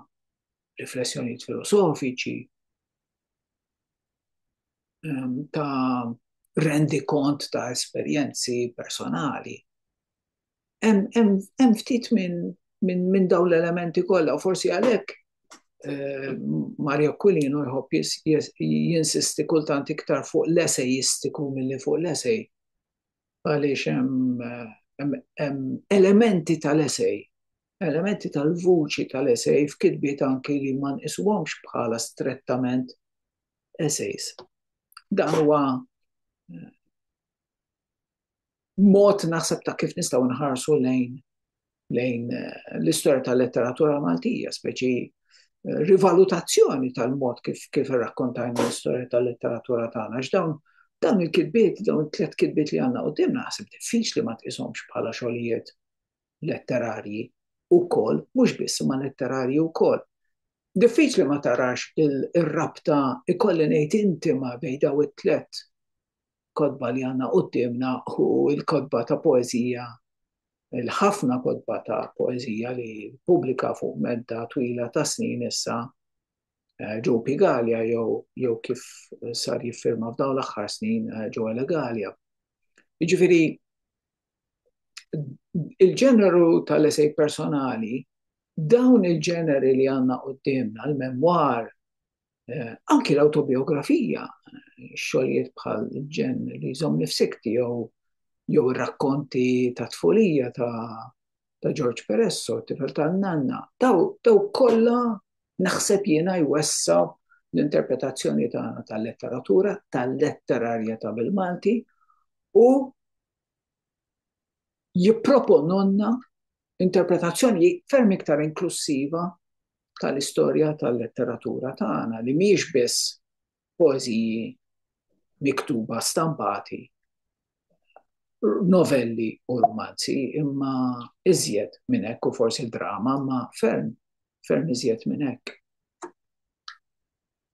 riflessjoni filosofiċi, ehm, ta' rendi kont ta' esperjenzi personali. Hemm ftit minn min, min dawn l-elementi kollha, u forsi għalhekk eh, Mario Aquilino jħobb jinsisti kultant iktar fuq l-esejistiku milli fuq l-esej. Għaliex hemm elementi tal-esej Elementi tal-vuċi tal-esej f'kitbiet anki li ma nqisuhomx bħala strettament esejs. Dan huwa mod naħseb ta' kif nistgħu nħarsu lejn lejn eh, l-istorja tal-letteratura Maltija, speċi eh, rivalutazzjoni tal-mod kif kif rakkontajna l-istorja tal-letteratura tagħna. X'dawn dawn il-kitbiet, dawn it-tliet kitbiet li għandna quddiem naħseb diffiċli ma tqishomx bħala xogħlijiet letterarji wkoll, mhux biss imma letterarji wkoll. Diffiċli ma tarax ir-rabta ikolli ngħid intima bejn daw it-tliet kotba li għandna quddiemna u l-kotba ta' poeżija il-ħafna kotba ta' poeżija li pubblika fuq medda twila ta' snin issa eh, ġew Pigalia jew jew kif sar jiffirma f'dawn l-aħħar snin eh, ġew Elegalia. Jiġifieri il-ġeneru tal-esej personali, dawn il-ġeneri li għandna qudiemna, l-memwar, eh, anki l-autobiografija, xogħlijiet bħal ġen li jżomm nifsikti jew jew ir-rakkonti ta' tfulija ta' ta' George Peresso, tifel ta' nanna, daw daw kollha naħseb jiena jwessa l-interpretazzjoni tagħna tal-letteratura, tal-letterarja ta' bil-Malti u jipproponulna interpretazzjoni ferm iktar inklussiva tal-istorja tal-letteratura tagħna li mhijiex biss poeżiji miktuba stampati, novelli u rumanzi, imma iżjed minn hekk u forsi drama, imma ferm, ferm iżjed minn hekk.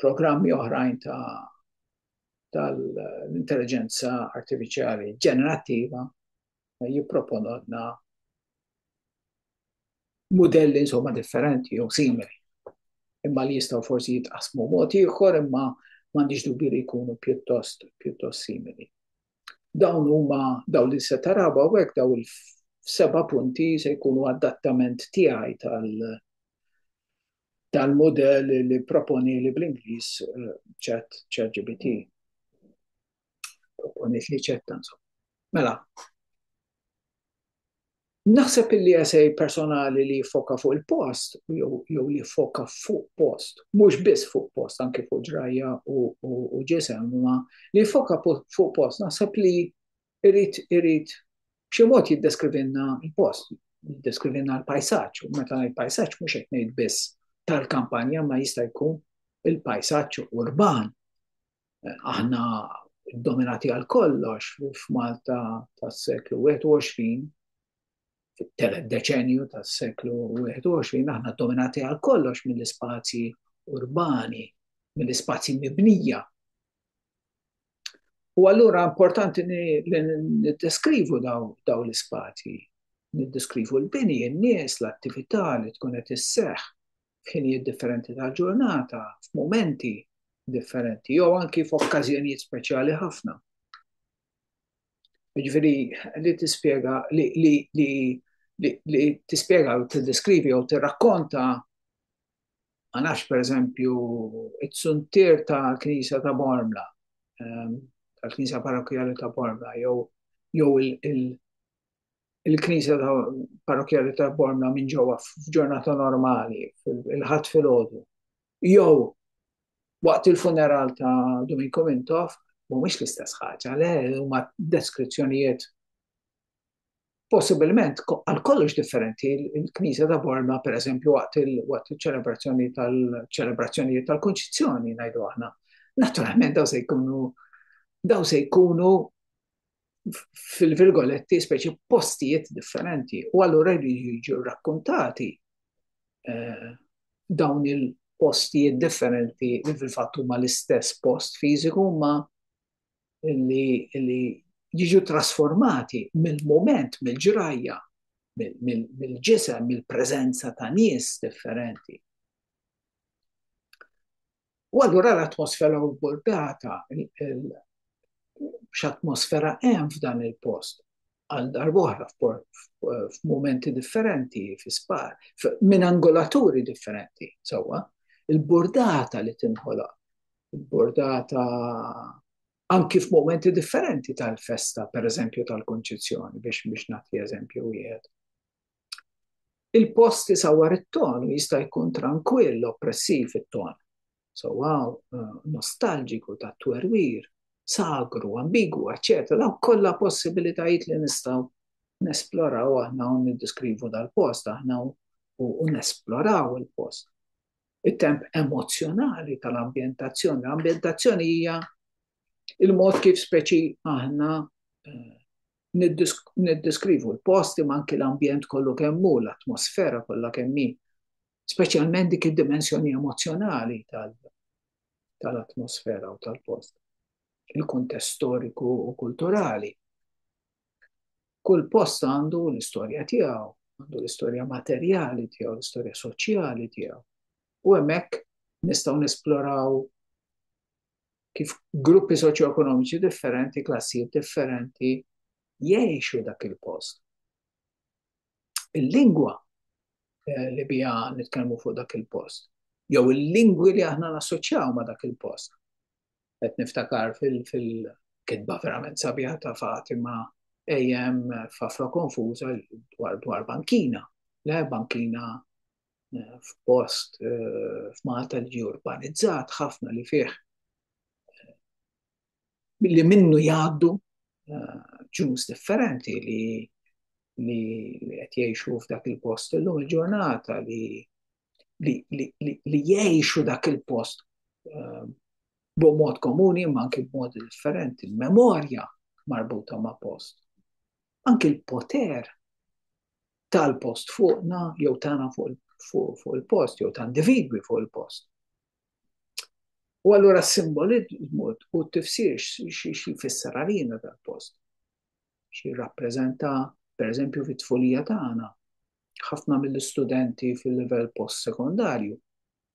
programmi oħrajn ta' tal-intelligenza artificiali ġenerattiva jipproponodna modelli insomma differenti jew simili. Imma li jistgħu forsi jitqasmu mod ieħor imma m'għandix dubju li jkunu pjuttost pjuttost simili. Dawn huma daw li se taraba u hekk daw il-seba' punti se jkunu adattament tiegħi tal- dan model li proponi li bl-Inglis eh, ċat ċat GBT. Proponit li ċat tansu. Mela, Naħseb illi għasej personali li foka fuq il-post, jew li foka fuq post, mux biss fuq post, anki fuq ġrajja u ġisem, ma li foka fuq post, naħseb li irid irid b'xi mod jiddeskrivilna l-post, jiddeskrivilna l-pajsaġġ, u meta ngħid pajsaġġ mhux qed ngħid biss tal-kampanja ma jista' jkun il-pajsaġġ urban. Aħna dominati għal kollox f'Malta tas-seklu 21, fit-telet deċenju tas-seklu 21, aħna dominati għal kollox mill-ispazji urbani, mill-ispazji mibnija. U allura importanti li niddeskrivu daw l-ispazji, niddeskrivu l-bini, n-nies, l-attività li tkun qed isseħħ f'ħinijiet differenti tal-ġurnata, f'mumenti differenti, jew anki f'okkażjonijiet speċjali ħafna. Ġifieri li tispjega li li li li tispjega u tiddeskrivi jew tirrakkonta Ma nafx pereżempju it-suntier ta' Knisja ta' Bormla, ehm, tal-Knisja Parrokkjali ta' Bormla, jew jew il-Knisja ta' Parrokkjali ta' Bormla minn ġewwa f'ġurnata normali, il-ħadd filgħodu. Jew waqt il-funeral ta' Dominiku Mintoff, mhumiex l-istess ħaġa, le, huma deskrizzjonijiet possibilment għal kollox differenti il-Knisja ta' Borma, per eżempju, waqt il-ċelebrazzjoni tal-ċelebrazzjonijiet tal-Kunċizzjoni, ngħidu aħna. Naturalment daw se jkunu daw se jkunu fil-virgoletti speċi postijiet differenti u allura jiġu rakkontati eh, dawn il-postijiet differenti li fil-fatt huma l-istess post fiżiku ma li jiġu trasformati mill-mument, mill-ġrajja, mill-ġisem, mill-preżenza ta' nies differenti. U allura l-atmosfera u l-burdata, x'atmosfera hemm f'dan il-post, għal darbohra f'momenti differenti, fi spar, minn angolaturi differenti, sewwa, il-bordata li tinħola, il-bordata anki f'momenti differenti tal-festa, per eżempju tal-konċizzjoni, biex biex nagħti eżempju wieħed. Il-post isawwar it-ton jista' jkun tranquill, oppressiv it-ton. sowa eh, nostalġiku ta' twerwir, sagru, ambigu, eccetera, daw kollha possibilitajiet li nistgħu nesploraw aħna u niddiskrivu dal-post aħna u nesploraw il-post. Il-temp emozjonali tal-ambientazzjoni. L-ambientazzjoni hija il-mod kif speċi aħna eh, niddiskrivu l-posti ma anki l-ambjent kollu kemmu, l-atmosfera kollha kemmi. speċjalment dik id-dimensjoni emozzjonali tal-atmosfera u tal-post, il-kuntest storiku u kulturali. Kull post għandu l-istorja tiegħu, għandu l-istorja materjali tiegħu, l-istorja soċjali tiegħu. U hemmhekk nistgħu nesploraw kif gruppi soċjoekonomiċi differenti, klassijiet differenti jgħixu dak il-post. il-lingwa eh, li bija nitkellmu fuq dak il-post, jew il-lingwi li aħna nassoċjaw ma' dak il-post. Qed niftakar fil-kitba verament sabiħa ta' Fatima ejem f'afra konfuża dwar dwar bankina. Le bankina eh, f'post eh, f'Malta li urbanizzat ħafna li fih li minnu jgħaddu ġus differenti li li qed jgħixu f'dak il-post illum il-ġurnata li li jgħixu dak il-post ehm, b'mod komuni ma anki b'mod differenti, memorja marbuta ma' post. Anki l-poter tal-post fuqna jew tagħna fuq il-post jew ta' individwi fuq il-post. U allura s-simbolizmu u t-tifsir x'jfisser għalina dal-post. Xi rappreżenta, per eżempju, fit-tfulija tagħna, ħafna mill-istudenti fil-livell post-sekondarju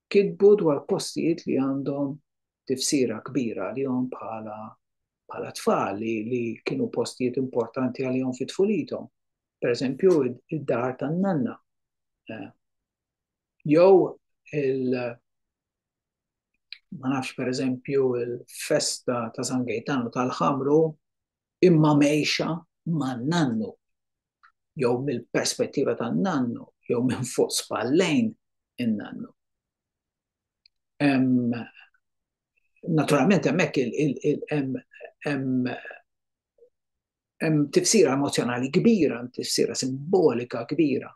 kitbu dwar postijiet li għandhom tifsira kbira għalihom bħala bħala tfal li, li kienu postijiet importanti għalihom fit-tfulithom. Per eżempju, id-dar tan-nanna. Eh, Jew il ma nafx per eżempju il-festa ta' San Gejtanu tal-ħamru imma mejxa ma' nannu jew mill-perspettiva ta' nannu jew minn fuq spallejn in-nannu. Naturalment hemmhekk hemm hemm tifsira emozjonali kbira, tifsira simbolika kbira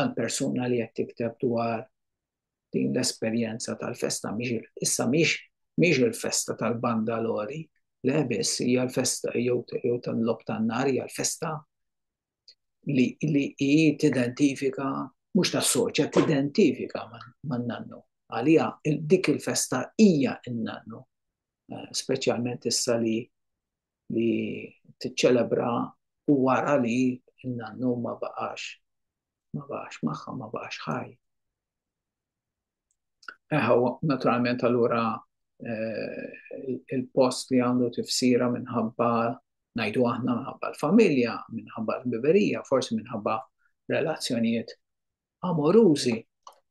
għal persuna li qed tikteb dwar din l-esperjenza tal-festa mhix issa mhix mhix il-festa tal-banda lori, le biss hija l-festa jew tal-lob tan-nar hija l-festa li hi tidentifika mhux tassoċja, tidentifika man-nannu. Għalija dik il-festa hija n-nannu, eh, speċjalment issa li li tiċċelebra u wara li n-nannu ma baqax ma baqax magħha, ma baqax ħaj. Eħaw, naturalment allura eh, il-post li għandu tifsira minħabba najdu aħna minħabba l-familja, minħabba l-biberija, forsi minħabba relazzjonijiet amorużi.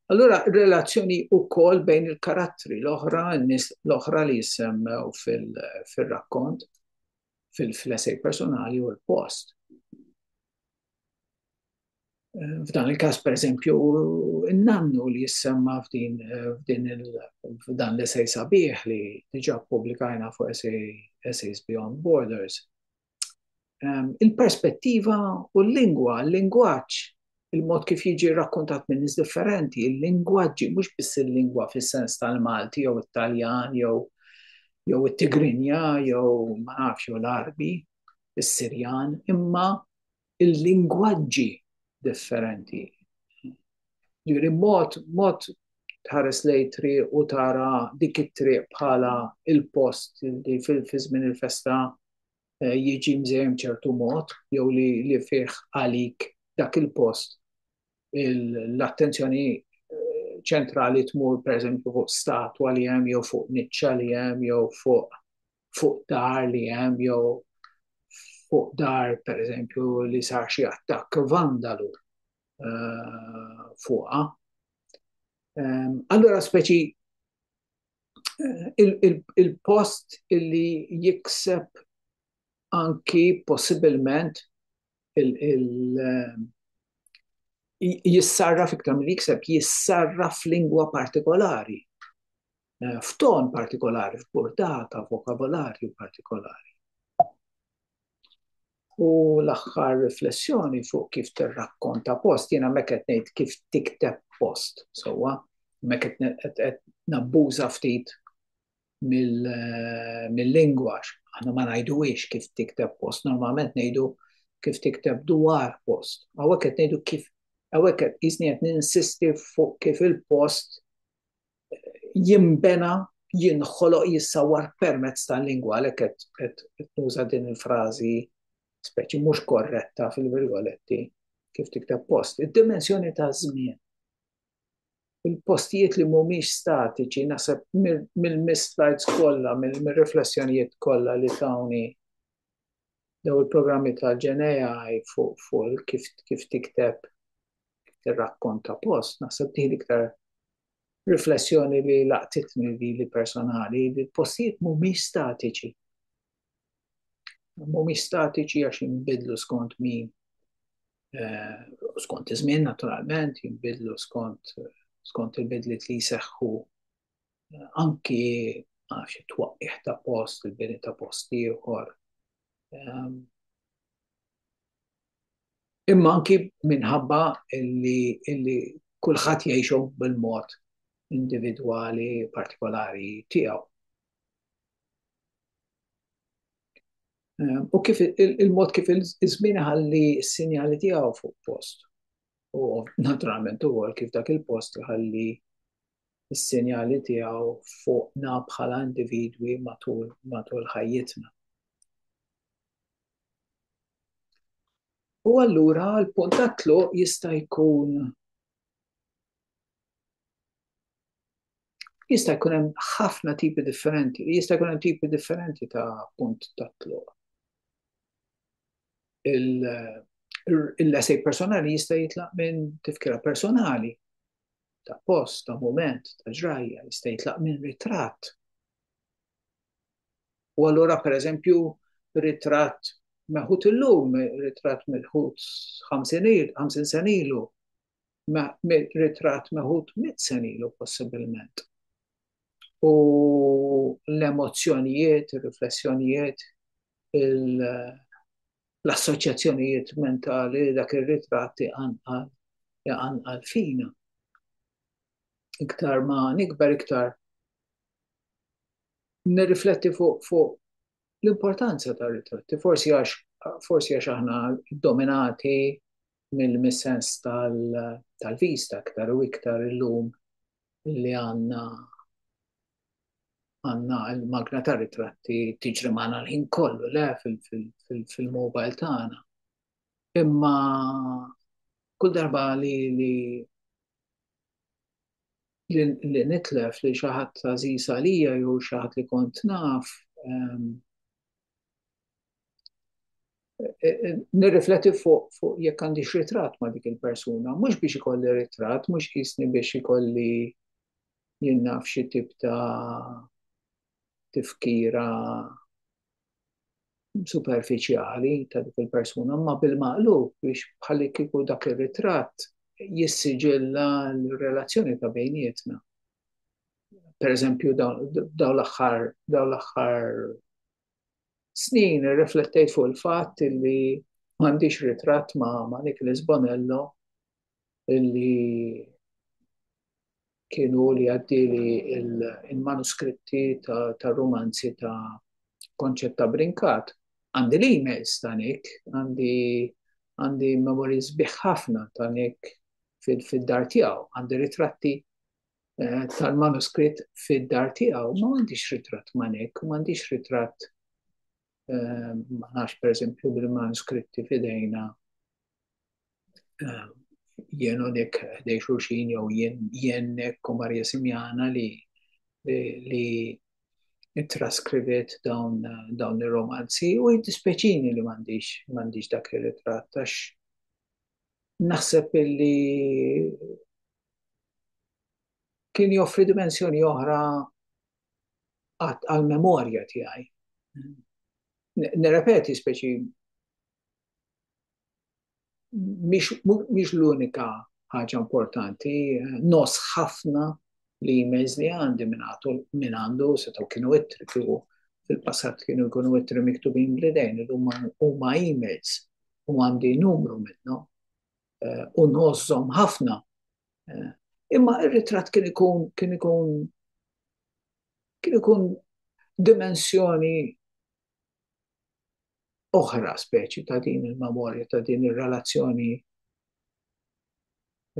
Allura, relazzjoni u kol bejn il-karattri l-oħra, l-oħra li jissemmew fil-rakkont, fil-flessej personali u l-post. F'dan il-każ pereżempju n-nannu li jissemma f'din f'dan l-esej sabiħ li diġà ppubblikajna fuq Essays Beyond Borders. Ehm, il-perspettiva u l-lingwa, l-lingwaġġ, il-mod kif jiġi rakkontat minn nies differenti, il-lingwaġġi mhux biss il-lingwa fis-sens tal-Malti jew it-Taljan jew jew it-Tigrinja jew ma nafx jew l-Arbi, is-Sirjan, imma il-lingwaġġi differenti. Ġiri mod, mod tħares lej triq u tara dik it-triq bħala il-post li fil-fizmin il-festa eh, jiġi mżejjem ċertu mod jew li, li fih għalik dak il-post l-attenzjoni eh, ċentrali tmur per eżempju fuq statwa li hemm jew fuq niċċa li hemm jew fuq fuq dar li hemm jew fuq dar pereżempju li sar xi attakk vandalu eh, fuqha. Ehm, allura speċi eh, il-post li jikseb anki possibilment jissarraf iktar mill jikseb, jissarraf f'lingwa partikolari, eh, f'ton partikolari, f'portata, vokabolarju partikolari. U l-axħar riflessjoni fuq kif tirrakkonta post, jena meket nejt kif tikteb post, sowa, meket nabbuża ftit mill-lingwax. Aħna ma ngħiduwiex kif tikteb post, normalment ngħidu kif tikteb dwar post. Għawek qed ngħidu kif, għawek qed jisni qed ninsisti fuq kif il-post jimbena jinħoloq jissawar permezz tal-lingwa għalhekk qed nuża din il-frażi speċi mhux korretta fil-virgoletti kif tikteb post. Id-dimensjoni ta' żmien. il-postijiet li mhumiex statiċi naħseb mill-slides kollha, mill-riflessjonijiet kollha li tawni daw il-programmi ta' ġenejaj fuq fuq kif kif tikteb tirrakkonta post, naħseb dik iktar riflessjoni li laqtitni li personali, li l-postijiet mhumiex statiċi. mhumiex statiċi għax jinbidlu skont min eh, skont iż-żmien naturalment, jinbidlu skont skont il-bidliet li jseħħu eh, anki għax it-twaqqih ta' post, il-bini ta' post ieħor. Ehm, imma anki minħabba illi, illi kulħadd jgħixu bil-mod individwali partikolari tiegħu. Ehm, u kif il-mod kif il-żmien ħalli s-sinjali tiegħu fuq post. U naturalment ukoll kif dak il-post ħalli s-sinjali tiegħu fuqna bħala individwi matul matul ħajjitna. U allura l-punt tatlu jista' jkun Jista' jkun hemm ħafna tipi differenti, jista' jkun hemm tipi differenti ta' punt ta' tluq. Il-lesej personali jista' jitlaq minn tifkira personali ta' post, ta' moment, ta' ġrajja, jista' jitlaq minn ritratt. U allura pereżempju ritratt meħud illum, ritratt mill-ħut 50 sen ilu, ritratt meħud mitt sena ilu possibilment. U l-emozzjonijiet, ir-riflessjonijiet, l-assoċjazzjonijiet mentali dak ir-ritratt iqanqal iqanqal fina. Iktar ma nikber iktar nirrifletti fuq fuq l-importanza ta' ritratti, forsi għax forsi għax aħna dominati mill-missens tal-vista aktar u iktar illum li għanna għanna l-magna ta' ritratti tiġri maħna l-ħin kollu le fil-mobile tagħna. Imma kull darba li li li nitlef li xi ħadd għażiż għalija jew xi ħadd li kont naf ehm, e, e, nirrifletti fuq fu jekk għandix ritratt ma' dik il-persuna, mhux biex ikolli ritratt, mhux jisni biex ikolli jinnaf xi tip ta' tifkira superfiċjali ta' dik il-persuna, ma bil-maqlub biex bħalli kieku dak ir-ritratt jissiġilla l-relazzjoni ta' bejnietna. Per eżempju, daw l-axħar, daw l-axħar snin riflettejt fuq il-fatt li m'għandix ritratt ma' ma' Nicholas Bonello li kienu li għaddili il-manuskritti ta' romanzi ta' konċetta brinkat. Għandi li emails ta' nek, għandi għandi memories biħħafna ta' nek fil-dar tijaw, għandi ritratti eh, tal-manuskritt fil-dar tijaw, ma għandix ritratt ma nek, ma għandix ritratt ma nafx per esempio bil-manuskritti fidejna jien u dik dej xurxin jew jien u Marja Simjana li li traskrivet dawn, dawn il-romanzi u jiddispeċini li mandiġ, mandiġ dak il-ritrat għax naħseb li kien joffri dimensjoni oħra għat għal-memorja tiegħi. Nirrepeti speċi mhix l-unika ħaġa importanti, nos ħafna li emails li għandi minn għandu setgħu kienu ittri kienu fil-passat kienu jkunu ittri miktubin bl-idejn, huma emails u għandi numru minnhom eh, u nożżom ħafna Eh, imma ir-ritratt kien ikun kien ikun kien ikun dimensjoni oħra speċi ta' din il-memorja, ta' din ir-relazzjoni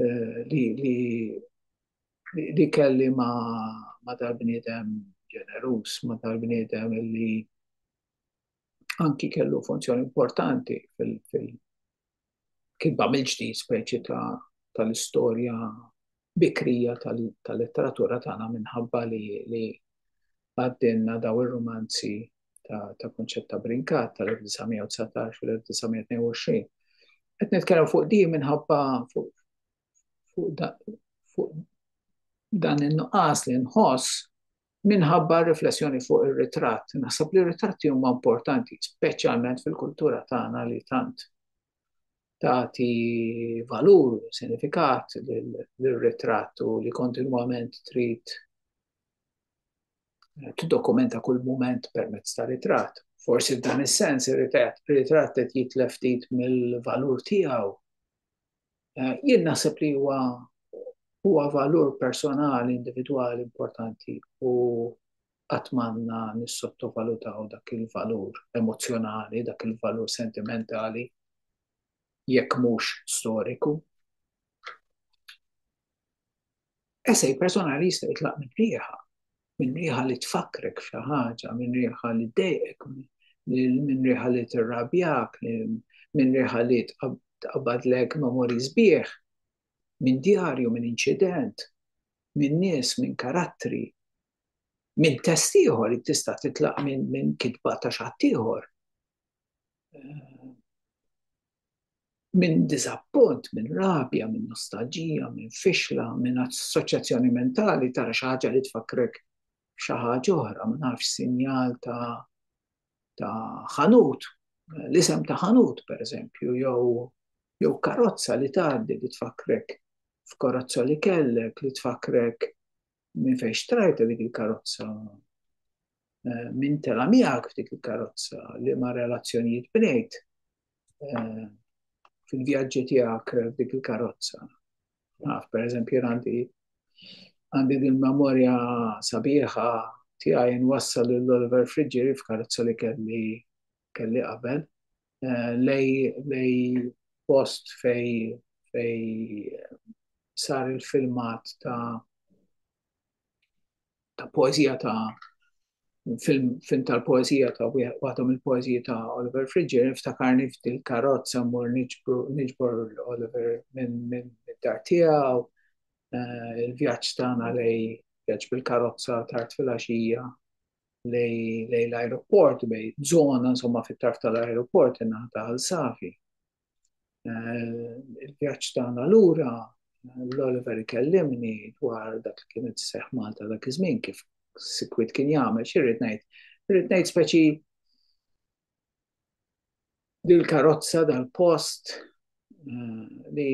eh, li, li, li kelli ma, ma dal-bniedem ġenerus, ma dal-bniedem li anki kellu funzjoni importanti fil-kitba mill-ġdid speċi tal-istorja bikrija tal-letteratura tagħna minħabba li għaddinna daw ir-rumanzi ta' kunċett ta' brinkat tal-1919 u l-1922. Qed nitkellem fuq di minħabba fuq dan in-nuqqas li nħoss Minħabba r-riflessjoni fuq ir-ritratt, naħseb li r-ritratti huma importanti, speċjalment fil-kultura tagħna li tant tagħti valur u sinifikat lir-ritratt u li kontinwament trid tiddokumenta kull mument permezz ta' ritratt. Forsi f'dan is-sens ir-ritratt qed jitlef ftit mill-valur tiegħu. Eh, jien naħseb li huwa huwa valur personali individwali importanti u għatmanna nissottovalutaw dak il-valur emozjonali, dak il-valur sentimentali, jekk mhux storiku. Esej personali jista' jitlaq minn rieħa, minn riħa li tfakkrek f'xi ħaġa, minn riħa li dejqek, minn riħa li tirrabjak, minn riħa li tqabadlek memori sbieħ, minn djarju, minn inċident, minn nies, minn karattri, minn test ieħor li tista' titlaq minn kitba ta' xattieħor. minn diżappunt, minn rabja, minn nostalġija, minn fixla, minn assoċjazzjoni mentali tara xi ħaġa li tfakkrek xi ħaġa oħra, ma nafx sinjal ta' ta' ħanut, l-isem ta' ħanut pereżempju, jew jew karozza li tgħaddi li tfakkrek f'karozza li kellek, li tfakkrek minn fejn xtrajta dik il-karozza, eh, minn tela miegħek f'dik il-karozza, li ma relazzjonijiet bnejt eh, fil-vjaġġi tiegħek f'dik il-karozza. Naf, per eżempju, għandi għandi din memorja sabiħa tiegħi nwassal l-Oliver Friġġieri f'karozza li kelli kelli qabel lej lej post fej fej sar il-filmat ta' ta' poezija ta' film, film tal-poezija ta' waħda mill-poezija ta' Oliver Frigger, ftakarni f'dil karozza mur niġbor Oliver minn min, min dar tiegħu, eh, il-vjaġġ tagħna lej vjaġġ bil-karozza tard fil-għaxija lej l-ajruport bej żona insomma fit-tarf tal-ajruport in-naħa ta' Għal Safi. Eh, il-vjaġġ tagħna lura l-Oliver ikellimni dwar dak li kienet seħ Malta dak iż-żmien kif sikwit kien jagħmel xirrid ngħid. Irrid ngħid speċi dil-karozza dal-post eh, li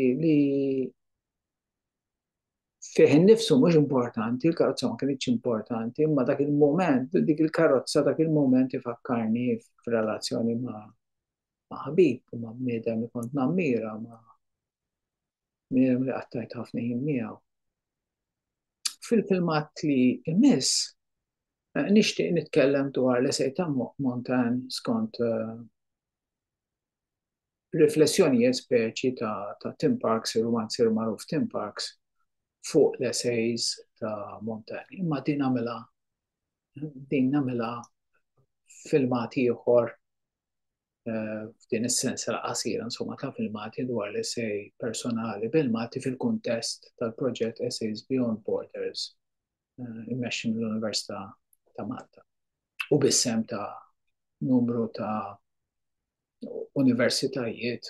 fih innifsu mhux importanti, il-karozza ma kienx importanti, imma dak il-moment, dik il-karozza dak il-moment ifakkarni f'relazzjoni ma' ma' ħabib, ma' bniedem li kont nammira, ma' bniedem li qattajt ħafna jien miegħu. Fil-filmat li imiss, eh, nixtieq nitkellem dwar l-esej ta' Montan skont eh, Riflessjoni hija speċi ta' ta' Tim Parks, ir-rumanzier magħruf Tim Parks, fuq l-essays ta' Montaigne. Imma din għamilha din nagħmilha filmat ieħor eh, f'din is-sensa qasira insomma ta' filmati dwar l essej personali bil-Malti fil-kuntest tal-proġett Essays Beyond Borders eh, immexxi mill-Università ta' Malta u bissem ta' numru ta' universitajiet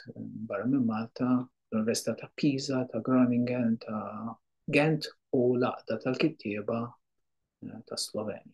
barra minn Malta, l-Università ta' Pisa, ta' Groningen, ta' Gent u l-Aqda tal-Kittieba ta' Sloveni.